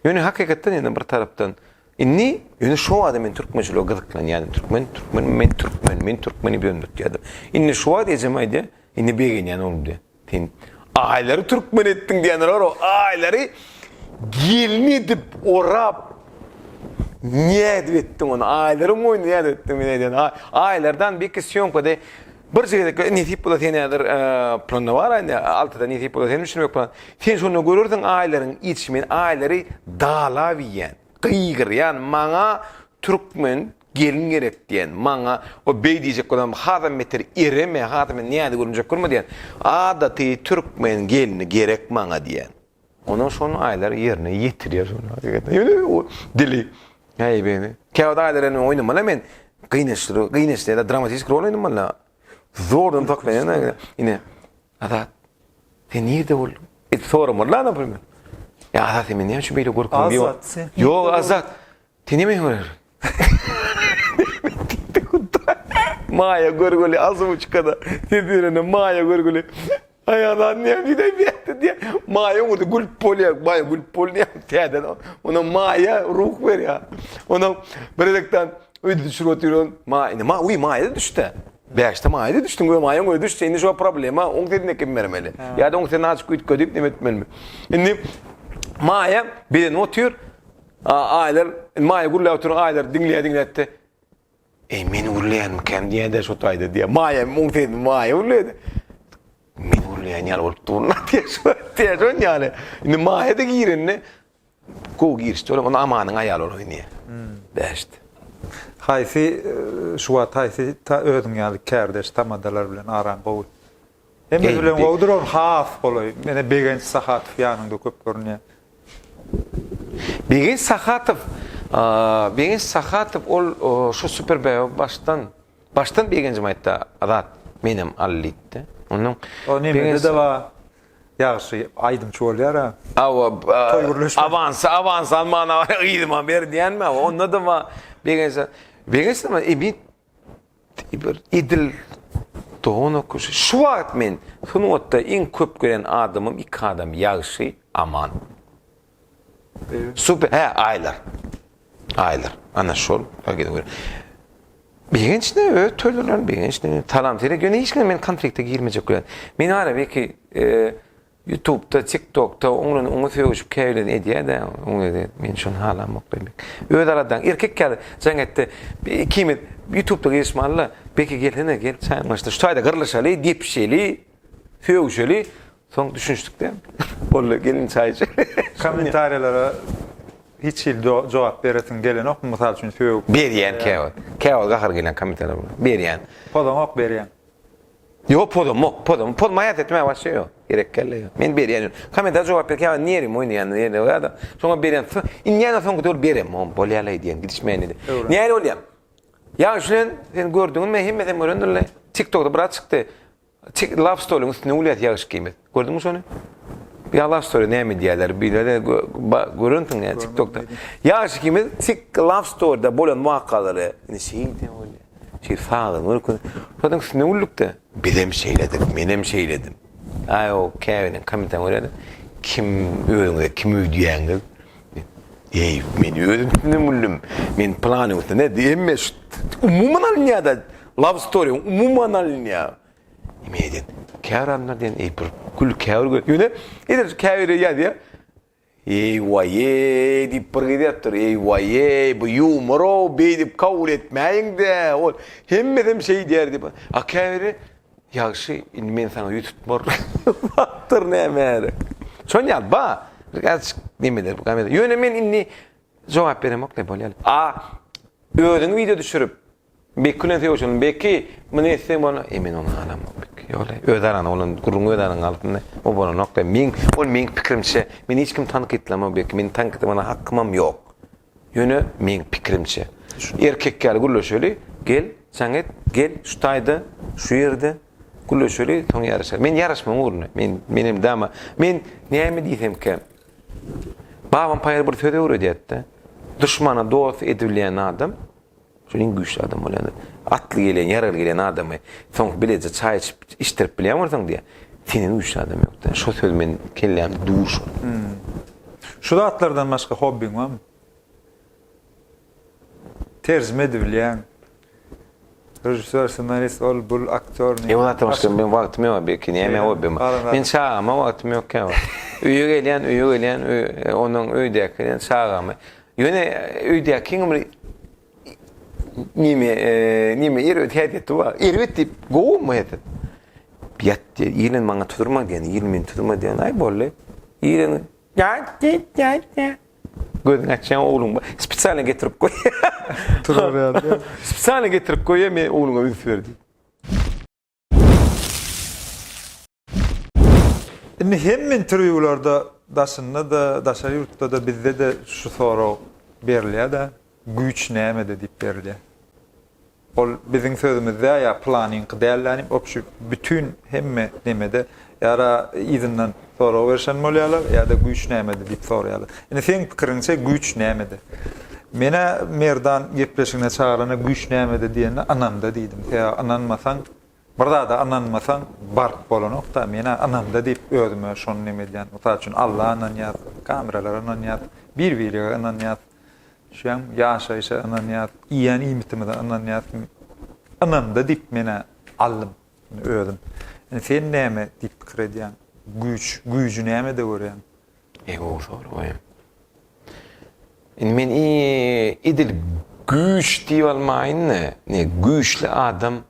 ýöne hakykatdan ýene bir tarapdan Indi ýöne şo wada men türkmençilige gyzyklanýardym. Türkmen, türkmen, men türkmen, men türkmen diýip ýöne tutýardym. Indi şu wada ejem aýdýar, indi begenýän oglum diýýär. Sen aýlary türkmen etdiň diýendir bar-ow, aýlary gelin edip orap, nädip etdiň ony, aýlaryň moýnuna nädip etdiň men aýdýan, aýlardan beýki sýomkada, Birje gezek e, nesip bolsa sen häzir e, planda bar indi altyda nesip bolsa sen üçin plan. Sen şonda görersiň aýlaryň içi men aýlary dalap iýen. Gygyrýan maňa türkmen gelin gerek diýen. Maňa o beý diýjek bolam hazam beter ereme hazam men näde görünjek görme diýen. Adaty türkmen gelini gerek maňa diýen. Onuň şon aýlary ýerine ýetirýär şon hakykatdan. Ýöne o dili äýbeni. Käwagt aýlary ýene oýnamaly men. Gynaçly, gynaçly ýa-da dramatistik rol oýnamaly. Zordan saklaýan ýa-da ine Azat. Sen nirde bolduň? Edip soramaly-la, naprimýr. Ýa Azat, sen meni näme üçin beýle görkeziň? Ýok, Azat. Seni men görýärem. Diýdi Hudaý. Maýa görgüli Azuçkada ses berende Maýa görgüli Aýal zat näme diýdi-aý bu ýerde diýýär. Maýa oňa diýip gülüp bolýar. Maýa gülüp bolýar täze onam Maýa ruh berýär. Onam biredekden öýde düşürip otyr. Maýa indi Maýa uý Maýa-da düşdi. Bäşde Maýa-da düşdi we Maýa oňa düşse indi şo problema oň sesini ekebi bermeli. Ýa-da oň sesini azajyk üýtgedip neme etmelimi. Indi Maýa bedenip otyr. Aýlar, Maýa gürläp oturan Aýlary diňleýä-diňläýdi-de, Eý, meni gürleýänmikäm diýýä-de şu taýda diýýä. Maýa muňa seredip Maýa gürleýä-de, Meni gürleýän ýaly bolup durun-a diýýä şon ýaly. Indi Maýa-da girende gowy girişdi. Olam onda Amanyň aýaly bolup oýnaýar. Bäşdi. Haýsy şu wagt haýsy ta özüň ýaly kärdeş tamadalar bilen araň gowy? Hemesi bilen gowy duran has golaý. Menä Begenç Sahatow ýanyňda köp görünýär. Begenç Sahatow, Begenç Sahatow ol şu super bäbä başdan, başdan Begenjim aýtdy Azat, menem al diýipdi. Ondan O nimede-de bar. Ýagşy aýdymçy bolýar-a. Hawa, toý gürleşmez. Awansa, awansa al mana yzyma ber diýýänmi? Onda-da bar. Begenç, Begenç nima, Ibit Diýip, edil dogan okaýşy. Şu wagt men sungatda iň köp gören adamym iki adam, Ýagşy, Aman. Super, hä, Aýlar. Aýlar, ana şol. Begenç ne, öz toýlaryndan Begenç ne, Talam-Terek, ýöne hiç kime men konflikte girmejek bilen. Meniň arabir ki, Ýutubda, tiktokda oňlan oňa sögüşip käbirleri edýädä oňlede men şony halamok diýmek. Öz aradaň erkek ýaly jaň etde ikimiz ýutubda gezişme alla beki gelsene gel çaýyň başyna şu taýda gyrlyşaly depişeli sögüşeli soň düşünişdik däl boldy geliň çaý içeli. Kommentariýalara hiç hili jogap beresiň gelenokmy mysal üçin sögüp. Berýän käwagt. Käwagt gahar gelýän kommentariýa berýän. Pozaňok berýän. Ýok pozamok pozamok poz maýas etmä waşe ýok gerek kelle ýok men berýän ýok kommentara jogap berkä ýa nerwim oýnaýanda ýerde ýada şoňa berýän so indýana soňky döwür berem o bolýala edýän gidişmeýän edi näle bolýa ýa şulen sen gördüňmi hemmesem görendirle tik tokda brat çykdy tik lap stoluň üstüne gülýäs ýagyş gimiz. Gördüňmi şony? Ýalaş story näme diýerler? Bilere görensiň ýa TikTokda. Ýaş ikimiz tik love storyda bolan wakalary indi şeýle bolýar. Şeýle sagdyn görkün. Şonuň üstüne güldükde biz hem şeýledik, men hem şeýledim. Aý o käbiriniň kommentariýasyny görýädim. Kim özüňe kim öýdýäňiz? Eý, men özüm üstünden güldüm. Men planyň üstüne diýme. Umuman alynýar-da love story, umuman alynýar. Emeden. Käbir anlar diýen eý bir gül käbir gül. Ýöne edil käbiri ýazýa. Eý waýeý diýip bir gyz ýatyr. Eý waýeý bu ýumoraw beýdip kabul etmäýiňdä. Ol hemmesem şeý diýer diýip. A käbiri ýagşy indi men saňa ýüz tutmar. Wagtyr nämäre. Şon ýaly ba bir azajyk nemeler bu. Ýöne men indi jogap beremok ne bolýar. A özüň wideo düşürip Beki bilen söýüşelim. Beki, Muny etseň bolna. E, men ony alamok, Beki. Ýola, öz araňda, onuň gürrüňi öz araňda galsyn-da. O bolanok da. Meň, ol meň pikirimçe, men hiç kimi tankytlamok, Beki. Meni tankytlamana hakymam ýok. Ýöne, meň pikirimçe. Erkek ýaly gürleşeli. Gel, jaň et. Gel, şu taýda, şu ýerde gürleşeli, soň ýaryşarys. Men ýaryşmagyň ugrunda. Men, menem dama. Men näme diýsemkä, babam paýhal bir söz öwredýärdi-de, Duşmana dost edibilýän adam, Şol iň güýçli adam bolýandyr. Atly gelýän, ýaragly gelýän adamy soň bileje çaý içip, içdirip bilýän bolsaň diýýär. Senden güýçli adam ýok diýýär. Şo söz meniň kellämde dur şol. Şu zatlardan başga hobbiň barmy? Terjime edibilýäň. Režissýor, ssenarist, ol, bul, aktýor. Ýok, zatdan başga meniň wagtym ýok belki. Näme hobbim bar? Meniň çagama wagtym ýok käwagt. Öýe gelýän, öýe gelýän, ondan öýdäki çagamy Ýöne öýdäki kiňim bir nime, nime erbet häsiýet etdi wa. Erbet diýip, gowumy häsiýet? Ýat diýdi. Ýelen maňa tudurma diýen, ýelen meni tudurma diýen. Aý boldy. Ýelen Gözüňi açýan ogluň bar. Spesialny getirip goý. Turuberdi. Spesialny getirip goý, men ogluňa üns ber diýip. Indi hemme interwýularda daşynda-da, daşary ýurtda-da, bizde-de şu sorag berilýär-de, güýç nämede diýip berilýär. Ol biziň sözümizde ýa pylanyňky dällänim, opşy bütin hemme nemede Ýa-da yzyndan sorag berişen bolýarlar, ýa-da güýç nämede diýip soraýarlar. Indi seň pikiriňçe güýç nämede? Menä Merdan gepleşigine çagyranda güýç nämede diýende ynamda diýdim. Sebäbi ynanmasaň, bir zada ynanmasaň baryp bolanok-da, menä ynamda diýip özüme şony neme edýän. Mysal üçin Alla ynanýas, kameralara ynanýas, bir-birege ynanýas. Düşýäňmi? Ýaşaýşa ynanýas, iýen iýmitimize ynanýas. Ynamda diýip menä aldym. Indi özüm. Indi sen näme diýip pikir edýäň? Güýç, güýji nämede görýäň? Eý gowy soru goýaň. Indi men i edil güýç diýip almaýyn-da, ne güýçli adam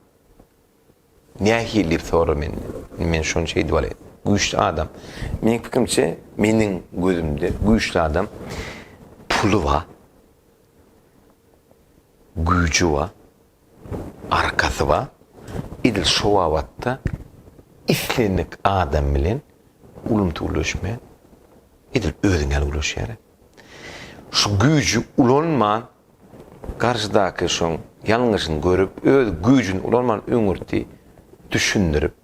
nähili diýip sorar menden. Indi men şony şeýdip alaýyn. Güýçli adam. Meniň pikirimçe, meniň gözümde güýçli adam puly bar, güýji bar, Arkasy bar, edil şo babatda islendik adam bilen ulumsy gürleşmän, edil özüň ýaly gürleşýärä. Şu güýji ulanman, garşydaky şoň ýalňyşyny görüp, öz güýjüni ulanman öňürti düşündirip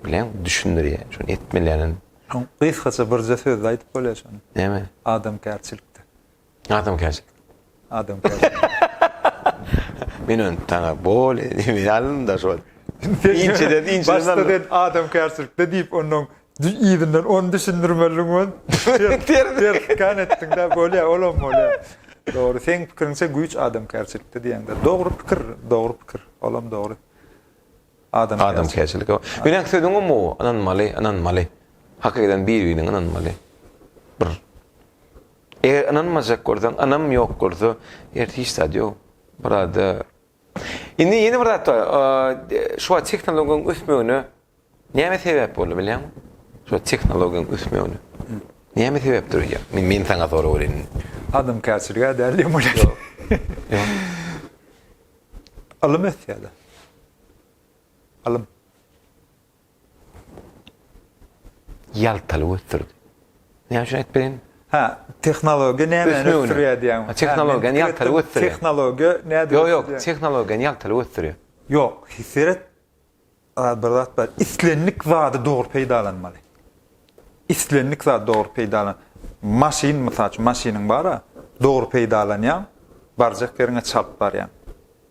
bileň, düşündirýär, şony etmeliň. Gysgaça birje sözde aýdyp bolýar şony. Näme? Adamkärçilikde. Adamkärçilik. Adamkärçilik. Men öň taňa bol diýip ýalynda şol. Inçeden inçe. Başda sen adamkärçilikde diýip onnoň yzyndan ony düşündirmeliň ol. Ters kan etdiňdä bolýa olam bolýa. Dogry seň pikiriňçe güýç adamkärçilikde diýäňde dogry pikir dogry pikir olam dogry. Adamkärçilik. Meniň sözüňem bu ynanmaly ynanmaly. Hakydan bir-birine ynanmaly. Bir. Eger ynanmajak bolsaň ynam ýok bolsa ýerde hiç zat ýok burada. Indi ýene bir zat bar. Şu wagt tehnologiýaň ösmegine näme sebäp boldy bilýäňmi? Şu tehnologiýaň ösmegine. Näme sebäp durýar? Men saňa sorap berýin. Adamkärçiligä däl diýen bolýar. Ýok. Ylym ösýär-de. Ylym. ýaltalyk ösdürdi. Näme üçin aýdyp bereýin? Hä, tehnologiýa nämäni ösdürýär diýýäň? Tehnologiýany ýaltalyk ösdürýär. Tehnologiýa nädip? Ýok, ýok, tehnologiýany ýaltalyk ösdürýär. Ýok, seret, bir zat bar. Islendik zady dogry peýdalanmaly. Islendik zady dogry peýdalan. Maşyn, mysal üçin, maşynyň bar-a, dogry peýdalanýaň, barjak ýeriňe çalt barýaň.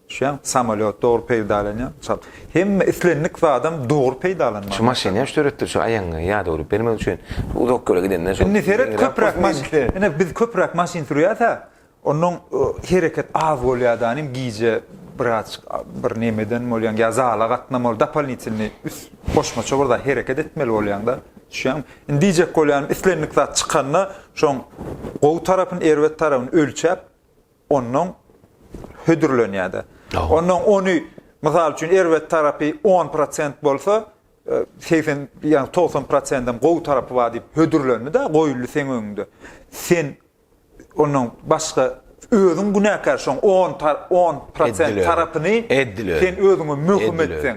Şu ýa samolýot dogry peýdalanýar. Mysal, hemme islendik zadam dogry peýdalanmaly. Şu maşyny näme üçin döretdiler? Şu aýagyňy ýadawlyk bermek üçin. Uzak ýola gidende şol. Indi seret köpräk maşyn. Ine biz köpräk maşyn sürýäs-ä. Onnoň hereket az bolýadanym gije biraz bir nemeden bolýaň ýa zala gatnamaly dopalnitelnyý üst goşmaça bir zat hereket etmeli bolýaňda. Düşýäňmi? Indi diýjek bolýanym islendik zat çykanda şoň gowy tarapyny erbet tarapyny ölçäp ondan hödürlenýär-de. Ondan ony, mysal üçin, erbet tarapy on prosent bolsa, segsen, ýagny togsan prosendem gowy tarapy bar diýip hödürlendi-de, goýuldy seň öňüňde. Sen ondan başga, özüň günäkär şoň on on prosent tarapyny sen özüňe möhüm etseň.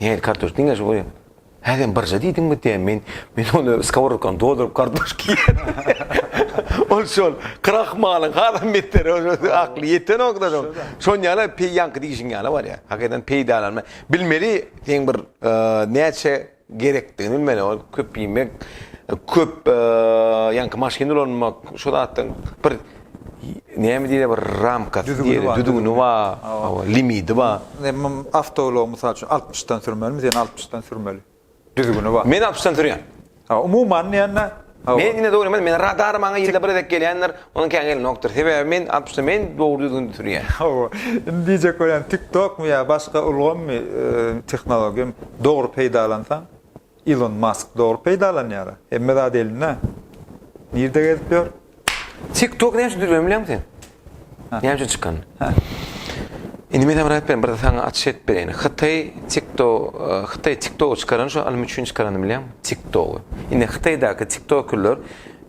Nähili kartoşka? Diňe şu goýaň. Hä sen birje diýdiňmi diýýän. Men men ony skowrodkany dolduryp kartoşka iýýän. Ol şol krahmalyň hasam beteri ol akly ýetenok-da şoň. Şoň ýaly peý ýaňky diýşiň ýaly bolýar. Hakydan peýdalanma. Bilmeli seň bir näçe gerekdigini bilmeli. Ol köp iýmek, köp ýaňky maşyn ulanmak şo zatdan bir Näme diýýär bir ramkasy Düzgüni diýýär, bar, düzgüni düzgüni. bar, Hawa. hawa, limiti bar. Ne mum awtoulagy mysal üçin altmyşdan sürmelimi, sen altmyşdan sürmeli. Düzgüni bar. Men altmyşdan sürýän. Hawa, umuman diýende, hawa. Men ine dogry men, men radar maňa ýylda bir gezek gelýändir, onuň kän gelenokdyr. Sebäbi men altmyşdan men dogry düzgünde sürýän. Hawa, indi diýjek bolýan TikTok-my ýa başga ulgammy, e, tehnologiýamy dogry peýdalansaň, Ilon Mask dogry peýdalanýar a. Hemme zat elinde. Nirde gezip ýör? Tik tok näme üçin dürüp bilýäňmi sen? Näme üçin çykan? Indi men aýdyp berin bir saňa açyş edip bereýin. Hytaý tik to Hytaý tik togy çykaran şu alym üçin çykarany bilýäňmi? Tik togy. Indi Hytaýdaky tik tokerler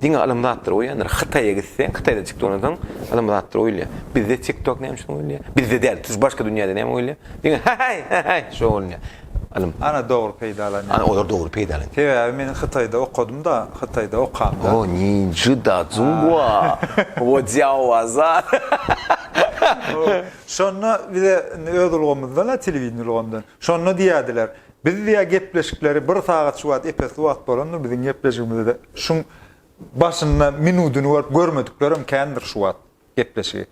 Diňe ylym zatlar goýýandyr. Hytaýa gitseň, Hytaýda tik dolan soň ylym zatlar goýulýar. Bizde tik tok näme üçin goýulýar? Bizde däl, tuş başga dünýäde näme goýulýar? Diňe heheý, heheý şo bolýar. Ylym. Ana dogry peýdalanýar. Ana olar dogry peýdalanýar. Sebäbi men Hytaýda okadymda, Hytaýda okamda. O ninji da zunghua, wo jiao wa za. Şonda bize indi öz ulgamymyzdan-a, telewideniýe ulgamyndan. Şonda diýýärdiler, Biz diýä gepleşikleri bir sagat şu wagt epesli wagt bolandyr biziň gepleşigimizde şuň başynda minudyny görüp görmediklerem kändir şu wagt gepleşigi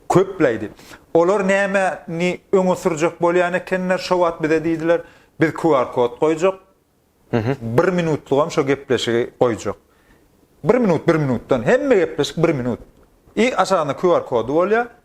köpläýdi olar näme ni öňe sürjek bolýan ekenler şo wagt bize diýdiler biz QR kod goýjak bir minutlygam şo gepleşigi goýjak bir minut bir minutdan hemme gepleşik bir minut i aşagynda QR kody bolýa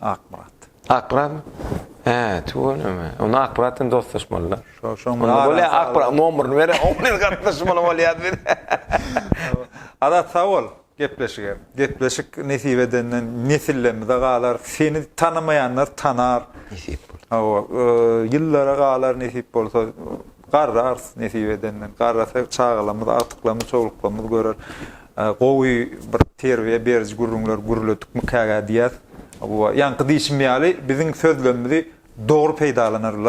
Akmyrat. Akmyratmy? Hä, tüweleme. Onda Akmyrat bilen dostlaşmaly-da. Şo, şoň bilen arasy. Bolýa, Akmyrat nomyryny bere, oň bilen gatnaşmaly bolýas biz. Azat, sag bol, gepleşige. Gepleşik nesip edende nesillerimize galar, seni tanamaýanlar tanar. Nesip bolsa. Hawa, ýyllara galar nesip bolsa, garrarys nesip edende. Garrasa çagalarymyz, agtyklarymyz, çowluklarymyz görer. Gowy bir terbiýe beriji gürrüňler gürledikmikägä diýýäs. Ýaňky diýşim ýaly, biziň sözlemimizi dogry peýdalanarlar.